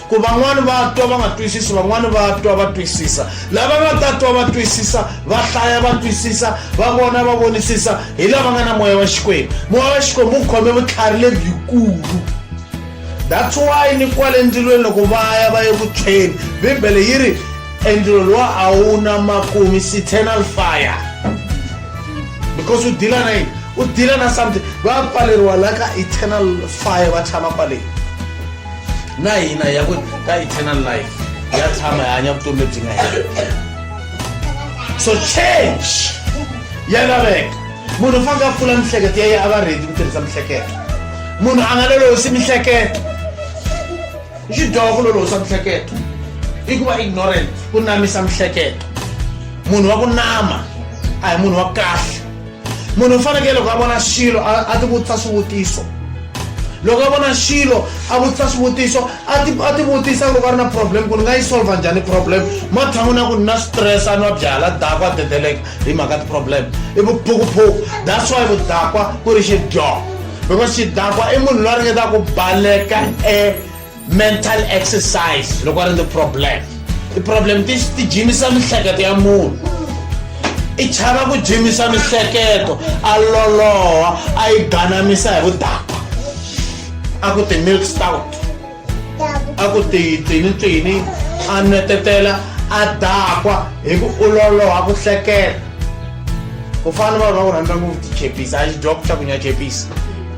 ku van'wani va twa va nga twisisi van'wani va twa va twisisa lava nga ta twa va twisisa va hlaya va twisisa va vona va vonisisa hi lava nga na moya wa xikwembu moya wa xikwembu wu khome vutlhari lebyikulu that's why ni kwale ndzilweni loko va ya va ye ku tshweni bibele yi ri endzilo lowa a wu na makumi citernal fire because u dila na yini u dila na something va pfaleriwa la ka eternal fire va tshama kwaleni na hina ya ku ka eternal life ya tshama hi hanya vutomi lebyi nga hela so change ya laveka munhu u faneke a pfula mihleketo ya ye a va redi ku tirhisa mihleketo munhu a nga lolosi mihleketo i xidyoho ku lolosa mihleketo i ku va ignorant ku namisa mihleketo munhu wa ku nama a hi munhu wa kahle munhu u fanekele loko a vona xilo a ti vutisa swivutiso loko a vona xilo a vutisa swivutiso a ti vutisa loko a ri na problem ku ni nga yi solva njhani problem matshan'wini ya ku ni na stress a nwa byala dakwa a dedeleka hi mhaka ti-problem i vuphukuphuku that's why vudakwa ku ri xidyoho because xidakwa i munhu loyi a ringetaka ku baleka e mental exercise loko a ri ni problem ti-problem ti ti jimisa miehleketo ya munhu i chava ku jimisa miehleketo a loloha a yi ganamisa hi vudaka a ku ti-milk stout a ku ti tini tini a netetela a dakwa hi ku u loloha ku hleketa ku fana vanhu va ku rhandza ngopfu tichepisi a xidyoku xa ku nya chepisi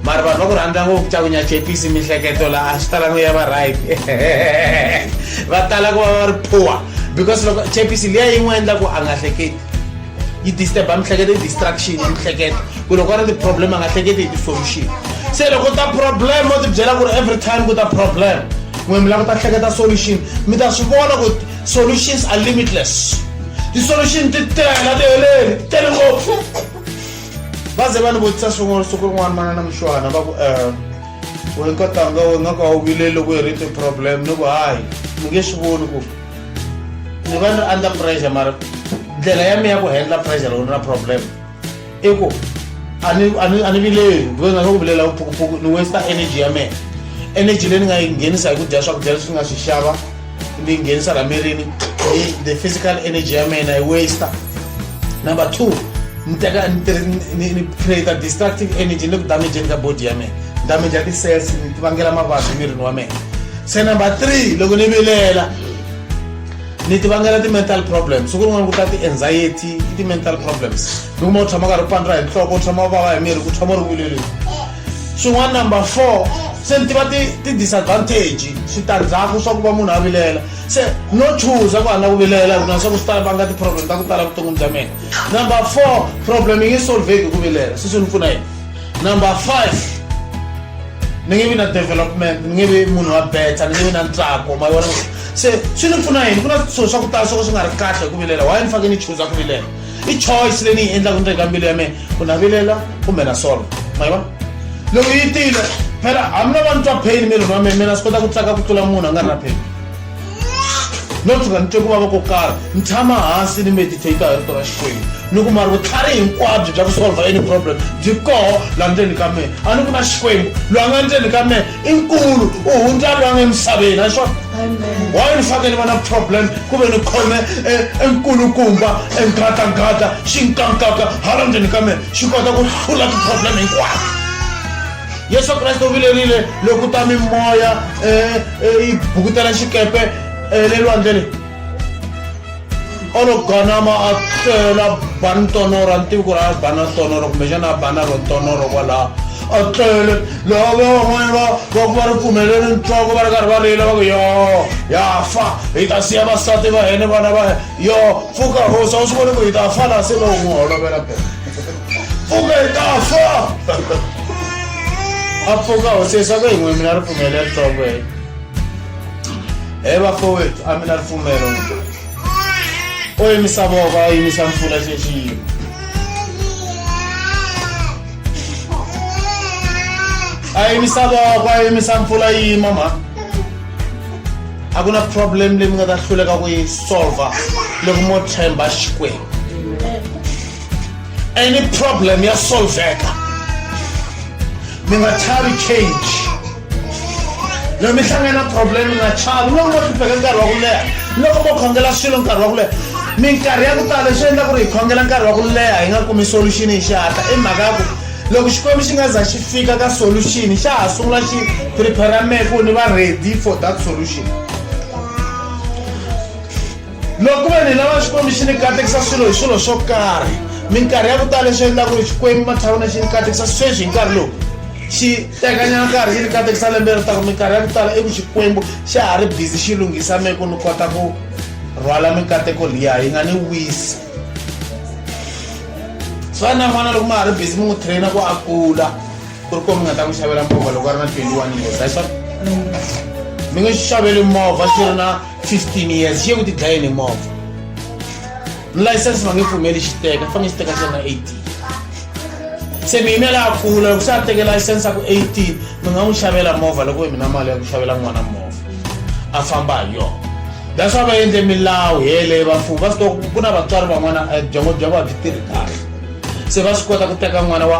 mari vanhu va ku rhandza ngopfu xa ku nyachepisi mihleketo laha swi talango ya va right va tala ku va va ri poor because loko chepisi liya yi n'wi endla ku a nga hleketi yi disturba mihleketo yi distraction yi mihleketo ku loko a ri ti-problem a nga hleketi hi ti-solution se loko ta problem o ti byela ku ri every time ku ta problem n'we mi lava ku ta hleketa solution mi ta swi vona ku solutions are limitless ti-solution ti tela ti heleli ti tele ngopfu va ze va ni vutisa swin'wana siku rin'wana manana mushwana va ku um we nkatanga we nga ka wu vile loko hi ri ti-problem ni ku hayi mi nge swi voni ku ni va ni ri under pressure mara ndlela ya mi ya ku handla pressure loko ni na problem i ku a ni a ni a ni vileli ve nga ka ku vilela vuphukuphuku ni westa energy ya mina energy leyi ni nga yi nghenisa hi ku dya swakudya leswi ni nga swi xava ni nghenisa la mirini the physical energy ya mina yi waster number two ni teka ni create destructive energy ni ku damageni ka body ya mina damage ya ti-cells ni ti vangela mavabyi mirini wa mina se number three loko ni vilela ni ti vangela ti-mental problems ku rin'wana ku ta ti-anxiety i ti-mental problems ni kuma u tshama karhi u pandra hi nhloko u tshama u vava hi miri ku tshama u ri vileleni swin'wana number four se ni tiva ti-disadvantage switandzhaku swa ku va munhu a vilela se no chuza ku a nga ku vilela hi ku na swa ku swi tala va nga ti-problem ta ku tala vuton'wini bya mina number four problem yi nge solveki hi ku vilela se swi ni pfuna yini number five ni nge vi na development ni nge vi munhu wa beta ni nge vi na ntsako ma vona se swi ni pfuna yini ku na swilo swa ku tala swo ka swi nga ri kahle hi ku vilela why ni fanekele ni chuza ku vilela i choice leyi ni yi endlaka ndzeni ka mbilu ya mina ku navilela kumbe na solo ma yi vona loko yi tile phela hambi no va ni twa pain mirini wa mina mina swi kota ku tsaka ku tlula munhu a nga ri na pain no tshuka ni twe ku vava ko karhi ni tshama hansi ni meditate hi rito ra xikwembu ni kuma ri vutlhari hinkwabyo bya ku solva any problem byi koho laha ndzeni ka mina a ni ku na xikwembu loyi a nga ndzeni ka mina i nkulu u hundza lwana emisaveni a swona wayi ni fanele va na problem ku ve ni khome enkulukumba e, engatangata xi nkankaka hala ndzeni ka mina xi kota ku hlula ti-problem hinkwato yesu kreste u vilerile loko ta mimoya e, e, yi bukutela xikepe le lwandle leyi olo ganama a tlela bani tonoro a ni tivi ku ri a bana tonoro kumbexana a bana ro tonoro kwalaha a tlele laha va van'wana va va ku va ri pfumeleli ntswako va ri karhi va rila va ku yo ya fa hi ta siya vasati va hene vana va yo pfuka hosi a wu swi voni ku hi ta fa laha se va n'wi holovela be pfuka hi ta fa a pfuka hosi leswaku hi n'we mina ri pfumeleli ntswako hene he bafowethu a mi na ripfumelo o yimisa voko a yimisa mpfula xexiyimo a yimisa voko a yimisa mpfula yima mhani a ku na problem leyi mi nga ta hluleka ku yi solva loko mo tshemba xikwembu any problem ya solveka mi nga chavi change loko mi hlangana na problem mi nga chavi loko mo hlupheka nkarhi wa ku leha loko mo khongela swilo nkarhi wa ku leha minkarhi ya ku tala leswi endla ku ri hi khongela nkarhi wa ku leha hi nga kumi solution hi xihatla i mhaka ya ku loko xikwembu xi nga za xi fika ka solution xa ha sungula xi prepare mehe ku ni va ready for that solution loko ve ni lava xikwembu xi ni katekisa swilo hi swilo swo karhi minkarhi ya ku tala leswi endlaka ku ri xikwembu matshavona xi ni katekisa sweswi hi nkarhi lowu xi tekanyana nkarhi xi ni katekisa lembe ri taku minkarhi ya ku tala i ku xikwembu xa ha ri bizi xi lunghisa me ku ni kota ku rhwala mikateko liya yi nga ni wisi swa na n'wana loko ma ha ri bizi mi n'wi traina ku a kula ku ri ko mi nga ta n'wi xavela movha loko a ri na twenty one years a swa mi nge xaveli movha xi ri na 15 years ye u tidlaye ni movha license va nge pfumeli xi teka fange xi teka xa na 18 se mi yimela ya kula loko se a teke license ya ku 18 mi nga n'wi xavela movha loko mina mali ya ku xavela n'wana movha a famba hi yona that's why va endle milawu yeleyo vamfumo va swi tiva ku na vatswari van'wana eh, byongo bya vona byi tirhi kahle se va swi kota ku teka n'wana wa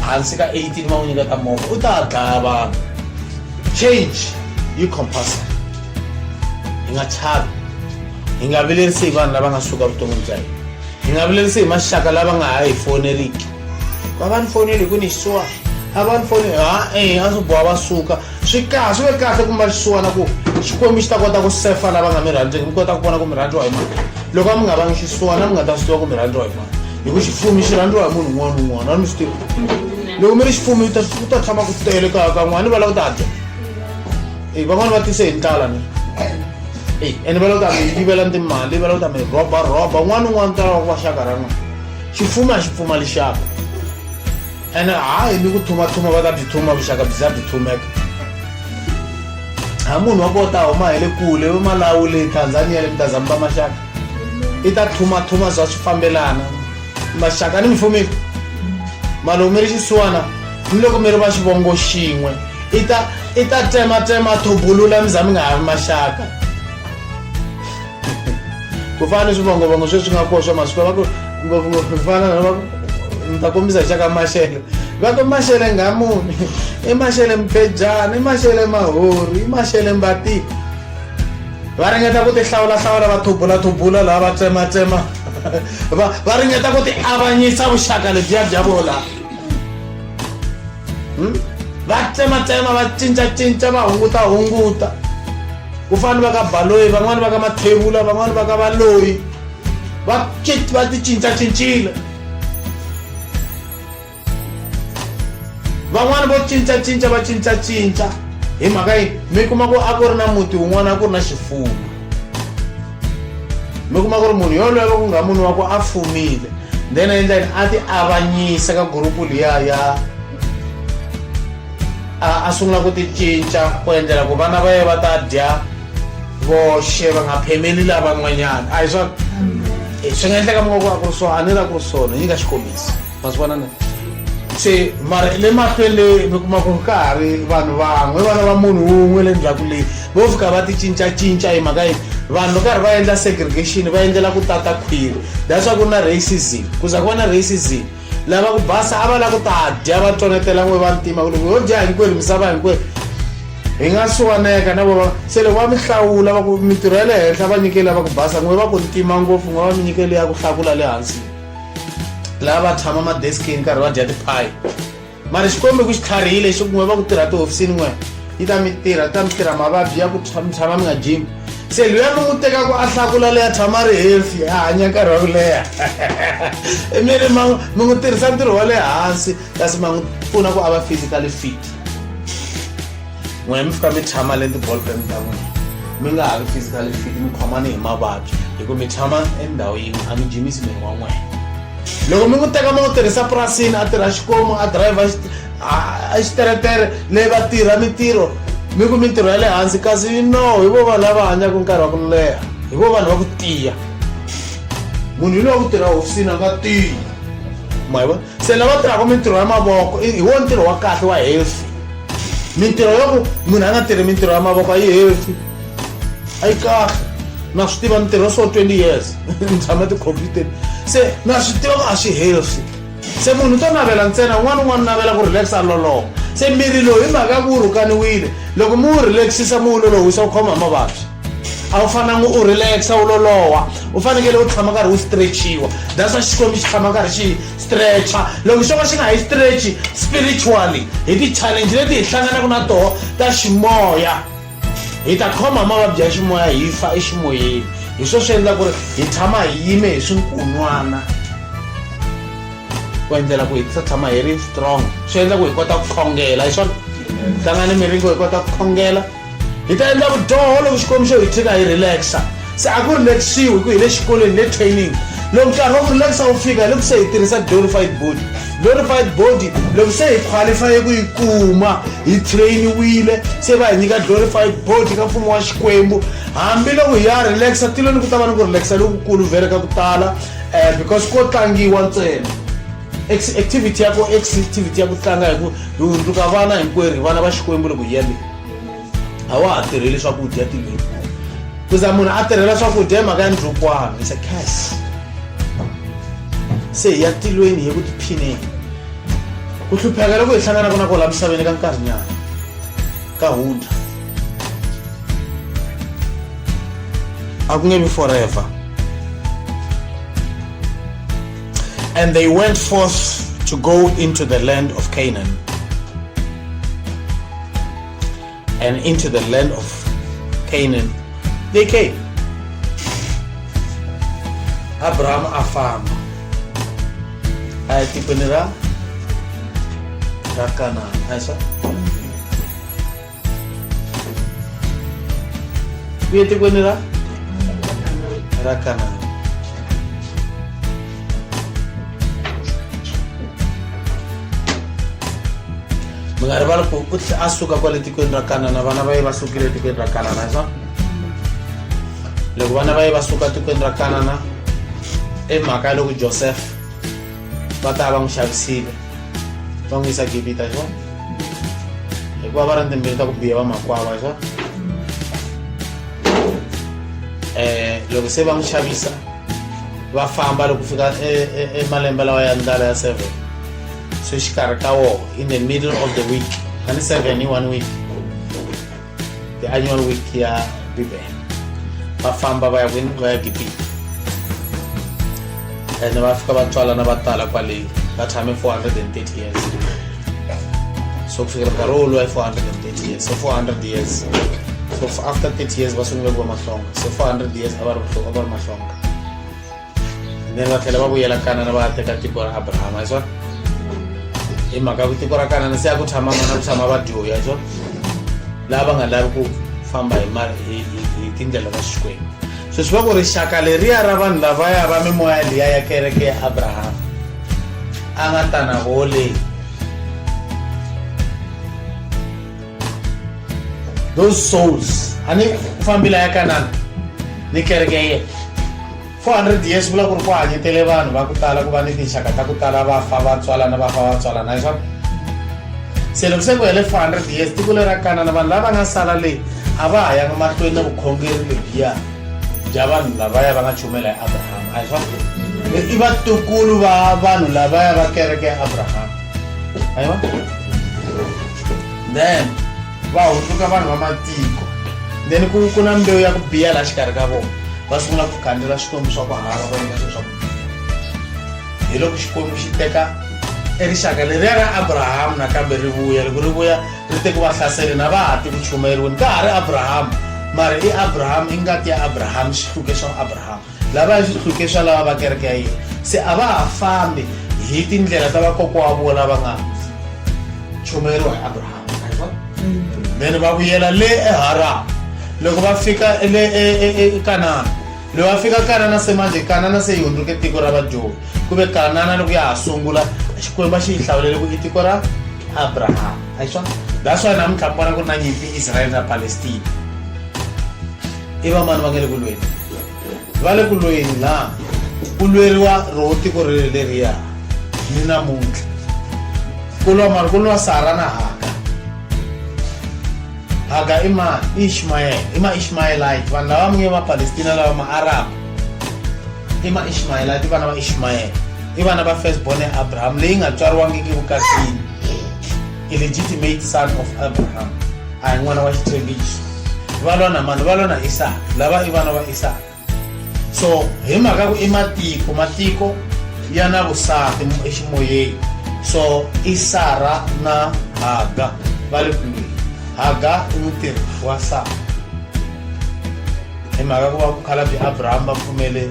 hansi ka 18 va n'wi nyiketa movha u ta dlaya vanhu change yi compulsory hi nga chavi hi nga vilerisi hi vanhu lava nga suka vuton'wini bya hina hi nga vilerisi hi maxaka lava nga ha hi foneriki va va ni foneli hi ku ni xisiwa a va ni foneli ha e a swi boha va suka swi kahle swi ve kahle kumba xisiwana ku xikwembu xi ta kota ku sefa lava nga mi rhandzeki mi kota ku vona ku mi rhandziwa hi mani loko a mi nga vangi xisiwana mi nga ta swi tiva ku mi rhandziwa hi mani hi ku xifumi xi rhandziwa hi munhu un'wana un'wana a mi swi tiva loko mi ri xifumi u ta tshama ku tele kaya ka n'wana ni va lava ku ta dya eyi van'wani va tise hi ndlala ni eyi ene va lo ta mi yivela ni timali va lo ta mi rhoba rhoba un'wana un'wana ta lava ku va xaka ra n'wina xipfuma a xi pfumali xaka ene hayi ni ku thumathuma va ta byi thuma vuxaka byi za byi thumeka ha munhu wa ko ta huma hi le kule va malawu le tanzania le mi ta zamba maxaka i ta thumathuma za swi fambelana maxaka ni mifumiko malume ri xisiwana ni loko mi ri va xivongo xin'we i ta i ta tsematsema thobulula mi za mi nga ha ri maxaka ku fana ni swivongovango sweswi nga koho swa masiku va ku ngopfungopfu ku fana na va ni ta kombisa hi xaka maxelo va ku maxele ngamuni i maxele mpedyana i maxele mahori i maxele mbatiko va ringeta ku tihlawulahlawula va thubulathubula laha va tsematsema va va ringeta ku ti avanyisa vuxaka lebyiya bya vona hmm? va tsematsema va cincacinca va hunguta hunguta ku fana va ka baloyi van'wani va ka mathevula van'wani va ka valoyi va va ti cincacincile van'wana vo cincacinca va cincacinca hi mhaka yi mi kuma ku a ku ri na muti wun'wana a ku ri na xifuwo mi kuma ku ri munhu yoloye va ku nga munhu wa ku a fumile then endla yini a ti avanyisa ka gurupu liya ya a sungula ku ti cinca ku endlela ku vana va ye va ta dya voxe va nga phemeli lavan'wanyana a hi swa swi nga endleka mi nga ku a ku ri swona a ni la ku ri swona yi nga xikombiso ma swi vona ne se mara le mahlweleni mi kuma ku ri ka ha ri vanhu van'we vana va munhu wun'we le ndzhaku leyi vo fika va ti cincacinca hi mhaka yini vanhu karhi va endla segregation va endlela ku tata khwiri that's why ku na racism ku za ku va na racism lava ku basa a va la ku ta dya va tonetela n'we va ntima ku loko yo dya hinkwerhu misava hinkwerhu hi nga suwaneka na vona se loko va mi hlawula va ku mintirho ya le henhla va nyikeli lava ku basa n'we va ku ntima ngopfu n'we va mi nyikeli ya ku hlakula le hansi laha va tshama madeskini nkarhi va dya tiphayi mara xikombe ku xi tlharihile xi kun'we va ku tirha tihofisini n'we yi ta mi tirha yi ta mi tirha mavabyi ya ku mi tshama mi nga jimi se luya mi n'wi tekaku a hlakula leya tshama ri healthy a hanya nkarhi wa ku leha mi ri ma mi n'wi tirhisa ntirho wa le hansi kasi ma n'wi pfuna ku a va physically fit n'wina mi fika mi tshama le ti-ballpen ta n'wina mi nga ha ri physically fit mi khomani hi mavabyi hi ku mi tshama endhawu yin'we a mi jimisi miri wa n'wina loko mi n'wi teka ma n'wi tirhisa purasini a tirha xikomu a driver a xiteretere leyi va tirha mintirho mi ku mintirho ya le hansi kasi no hi vo vanhu lava hanyaka nkarhi wa ku leha hi vo vanhu va ku tiya munhu hi lowa ku tirha hofisini a nga tiyi ma hi vona se lava tirhaka mintirho ya mavoko hi wo ntirho wa kahle wa healthy mintirho yo ku munhu a nga tirhi mintirho ya mavoko a yi healthy a yi kahle na swi tiva mintirho so 20 years ni tshama ti-computer se na swi tiva ku a swi healthy se munhu to navela ntsena un'wana un'wana navela ku relax a loloha se miri lowu hi mhaka ya ku wu rhukaniwile loko mi wu relaxisa mi wu lolohisa wu khoma hi mavabyi a wu fananga u relaxa u loloha u fanekele u tshama nkarhi wu stretchiwa that's why xikwembu xi tshama nkarhi xi stretcha loko xo ka xi nga hi stretchi spiritually hi ti-challenge leti hi hlanganaka na toho ta ximoya hi ta khoma hi mavabyi ya ximoya hi fa eximoyeni hi swo swi endla ku ri hi tshama hi yime hi swinkunwana ku endlela ku hi sa tshama hi ri strong swi endla ku hi kota ku khongela hi swona hlangani miringo hi kota ku khongela hi ta endla vudyoho loko xikwembu xo hi tshika hi relaxa se a ku relaxiwi hi ku hi le xikolweni le training loko nkarhi wa ku relaxa wu fika hi loko se hi tirhisa glorified body glorified body loko se hi qualifye ku yi kuma hi trainiwile se va hi nyika glorified body ka mfumo wa xikwembu hambiloko hi ya relaxa tilweni ku ta va ni ku relaxa lokukulu vhele ka ku tala um because ko tlangiwa ntsena activity ya ku activity ya ku tlanga hi ku hi hundzuka vana hinkwerhu hi vana va xikwembu loko hi yaleyo a wa ha tirheli swakudya tinyimpfu ku za munhu a tirhela swakudya hi mhaka ya ndlukwana is a cas se hi ya tilweni hi ku tiphineni ku hlupheka loko hi hlanganaka na kola misaveni ka nkarhinyana ka hundra a ku nge vi forever and they went forth to go into the land of canaan and into the land of Canaan they came. Abraham afamba aya tikweni ra ra Kanana ayisa kuye tikweni ra ra Kanana mi nga rivali ku u tlhe a suka kwale tikweni ra kanana vana va ye va sukile etikweni ra kanana hi swona loko vana va ye va suka tikweni ra kanana i mhaka ya loko joseph va ta va n'wi xavisile va n'wi yisa gibita hi swona hikuva va ri ni timbilu ta ku biya va makwava hi swona um loko se va n'wi xavisa va famba loko fika emalembe e, e, e lawa ya ndlala ya seven so exikarhi ka woho in the middle of the week a ni seven hi one week the annual week ya bibele va famba va ya kwini va ya gibita ene va fika va tswalana va tala kwaleyi va tshame 430 years so ku fikela nkarhi wolowo ya 430 years so 400 years so after 30 years va sungule ku va mahlonga so 400 years a va ri mahlonga then va tlhela va vuyela kanana va ya teka tiko ra abrahama hi swona hi mhaka ya ku tiko ra kanana se ya ku tshama vana ku tshama va dyoya hi swona laha va nga lavi ku famba hi mali hi hi- hi tindlela ta xikwembu so swi va ku rixaka leriya ra vanhu lavaya va mimoya liya ya kereke ya abrahama a nga ta na vole those souls ani ku fambila ya kanana ni kereke ya yena 400 years vula ku ri ku hanyetele vanhu va ku tala ku va ni tinxaka ta ku tala va fa va tswalana va fa va tswalana hi swona se loko se ku hele 400 years tiko lera kanana vanhu lava nga sala leyi a va ha yanga mahlweni na vukhongeri lebyiya bya vanhu lavaya va nga chumela ya abrahama a hi swona i vatukulu va vanhu lavaya va kereke ya abrahama aiwa then va hundzuka vanhu va matiko then ku ku na mbewu ya ku biya laha xikarhi ka vona va sungula ku khandzela swikwembu swa ku hava va endla swilo swa ku biya hi loko xikwembu xi teka erixaka leriya ra abrahamu nakambe ri vuya loko ri vuya ri te ku va hlaseli na va ha ti ku chumayeriweni ka ha ri abrahamu mara i abrahamu i ngati ya abrahamu xihluke xa abrahamu lava ya swihluke swa lava va kereke ya yena se a va ha fambi hi tindlela ta vakokwa wa vona va nga chumeriwa hi abrahama then va vuyela le eharama loko va fika le ekanana loko va fika kanana se manje kanana se yi hundzuke tiko ra vadyoni ku ve kanana loko ya ha sungula xikwembu a xi yi hlawulele ku i tiko ra abrahama a hi swona that's why namuntlha mi vona ku ri na nyimpi israyele na palestina i vamani va nge le ku lweni va le ku lweni na ku lweriwa roho tiko ri leriya ni namuntlha ku lwa mari ku lwa sara na haka haka i ma ishmayel i ma ishmayelite vanhu lava munge va palestina lava ma arab i ma ishmayelite i vana va ishmayel i vana va first born ya abraham leyi nga tswariwangiki vukatini illegitimate son of abraham a hi n'wana wa xitshembiso va lwa na mani va lwa na isaka lava i vana va isaka so hi mhaka ku i matiko matiko ya na vusati eximoyeni so i sara na haga va le kwihi haga i mutirhi wa sara hi mhaka ku va ku khalabye abraham va pfumele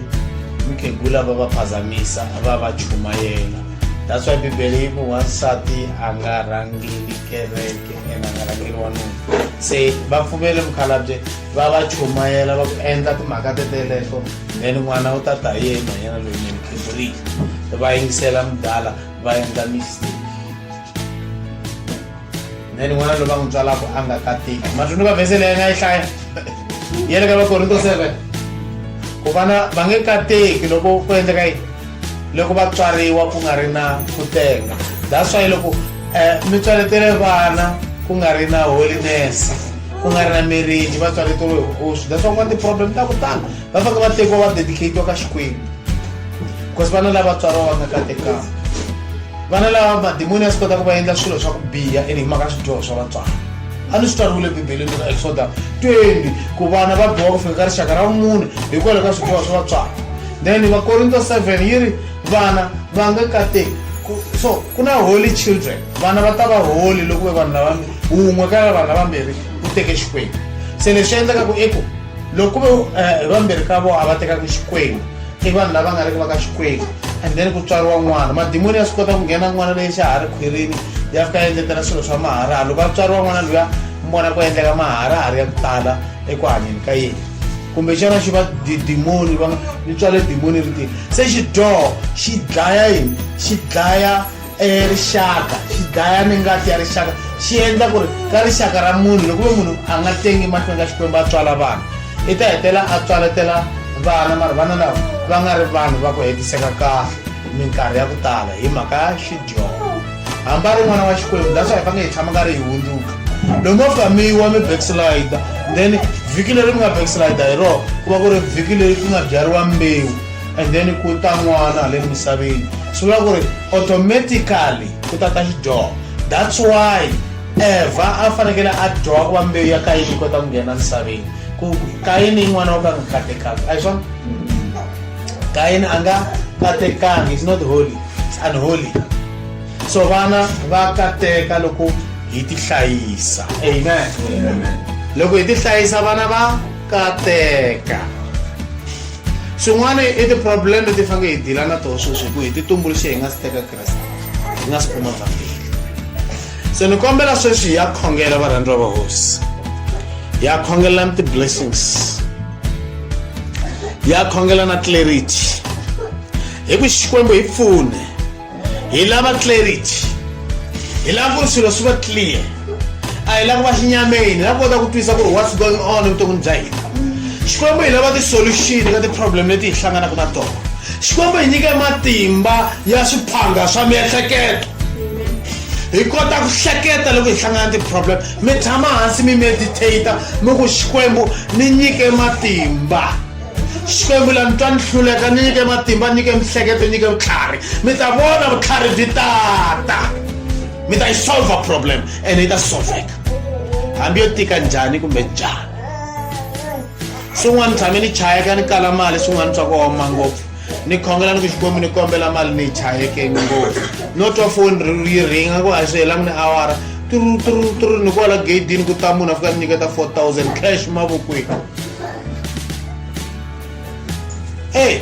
mukhegula va va phazamisa va va chumayela that's why bibele yi ku wansati a nga rhangeli kereke ene a nga rhangeli wanuna se va pfumele mukhalabye va va chumayela va ku endla timhaka teteleto then n'wana u ta ta hi yena yena loyi ni mukhiburiki va yingisela mudala va endla mistake then n'wana loyi va n'wi tswalaka a nga katiki matwini va vhese leyi nga yi hlaya ya le ka vakorinto seven ku vana va nge kateki loko ku endleka yini loko va tswariwa ku nga ri na ku teka that's why loko um mi tswaletele vana ku nga ri na holiness ku nga ri na marriage va tswaleteriwe hi vukosi that's why ku nga ti-problem ta ku tala va fanele va tekiwa va dedicatiwa ka xikwembu because vana lava tswariwa va nga katekanga vana lava madimoni a swi kota ku va endla swilo swa ku biha and hi mhaka swidyoho swa vatswari a ni swi tswariwile bibeleni ka exoda 20 ku vana va biwa ku fika ka rixaka ra mune hikwalaho ka swidyoho swa vatswari then vakorinto 7 yi ri vana va nga kateki so ku na holy children vana va ta va holy loko ve vanhu lava wun'we ka vanhu lavambirhi u teke xikwembu se leswi endlekaku i ku loko ve eh, vambirhi ka vona a va tekaka xikwembu i vanhu lava nga riki va ka xikwembu and then ku tswariwa n'wana madimoni ya swi kota ku nghena n'wana leyi xa ha ri khwirini ya fika ya endletela swilo swa maharaha loko a tswariwa n'wana luya mona ku endleka maharaha ri ya ku tala eku hanyeni ka yena kumbe xana xi va dimoni va ni tswale dimoni ri tini se xidyoho xi dlaya yini xi dlaya e rixaka xi dlaya ni ngati ya rixaka xi endla ku ri ka rixaka ra munhu loko ve munhu a nga tengi mahlweni ka xikwembu a tswala vanhu i ta hetela a tswaletela vana mara vana lava va nga ri vanhu va ku hetiseka kahle minkarhi ya ku tala hi mhaka ya xidyongo hamba ri n'wana wa xikwembu that's why va nge hi tshama nga ri hi hundzuka loko mo fika mi yiwa mi backslider then vhiki leri mi nga backslider hi rona ku va ku ri vhiki leri ku nga byariwa mbewu and then ku ta n'wana le misaveni swi vula ku ri automatically ku ta ta xidyoho that's why evha a fanekele a dyoha ku va mbewu ya kayini yi kota ku nghena misaveni ku kayini yin'wana wo ka nga katekanga a hi swona kayini a nga katekanga is not holy is unholy so vana va kateka loko hi ti hlayisa amen loko hi ti hlayisa vana va kateka swin'wana i ti-problem leti fange hi dila na toho sweswi hi ku hi ti tumbuluxe hi nga si teka kreste hi nga si kuma vhambili se ni kombela sweswi hi ya khongela varhandziwa va hosi hi ya khongelelani ti-blessings hi ya khongela na clarity hi ku xikwembu hi pfune hi lava clarity hi lava ku ri swilo swi va clear a hi lava ku va xinyameni hi lava kota ku twisa ku ri what's going on evuton'wini bya hina xikwembu hi lava ti-solution ka ti-problem leti hi hlanganaka na tona xikwembu hi nyike matimba ya swiphanga swa miehleketo hi kota ku hleketa loko hi hlangana ti-problem mi tshama hansi mi meditata mi ku xikwembu ni nyike matimba xikwembu la mi twa ni hluleka ni nyike matimba nyike mihleketo nyike vutlhari mi ta vona vutlhari byi tata mi ta yi solve problem ene yi ta solveka hambi yo tika njhani kumbe njhani swin'wana tshame ni chayeka ni kala mali swin'wana swa ku oma ngopfu ni khongela ni ku xikwembu ni kombela mali ni yi chayeke ngopfu no twa foni yi ringa ku a swi helangi ni awara tru tru tru ni kwala gedini ku ta munhu a fika ni nyiketa 4000 cash mavokweni eyi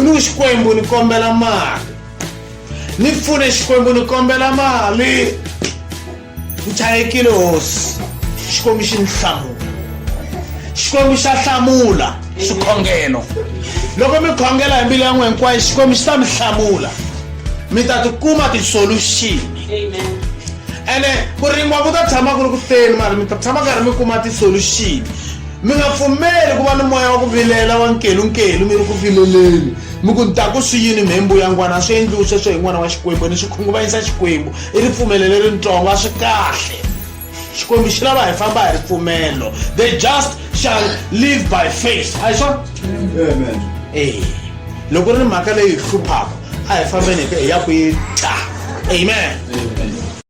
ni xikwembu ni kombela mali ni pfune xikwembu ni kombela mali ni chayekile hosi xikwembu xi ni hlamula xikwembu xa hlamula swikhongelo loko mi khongela hi mbilu ya n'we hinkwayo xikwembu xi ta mi hlamula mi ta tikuma tisoluxini ene ku rima ku ta tshama ku ri ku teni mara mi ta tshama karhi mi kuma ti-solution mi nga pfumeli ku va ni moya wa ku vilela wa nkelunkelu mi ri ku vileleni mi ku ni ta ku swi yini mhembu ya n'wana a swi endliwi sweswo hi n'wana wa xikwembu ni swi khunguvanyisa xikwembu i ripfumelo leritsongo a swi kahle xikwembu xi lava hi famba hi ripfumelo the just shall live by faith a hi swona e loko ri ni mhaka leyi hi hluphaka a hi fambeni hi ya ku yi ta amen, amen.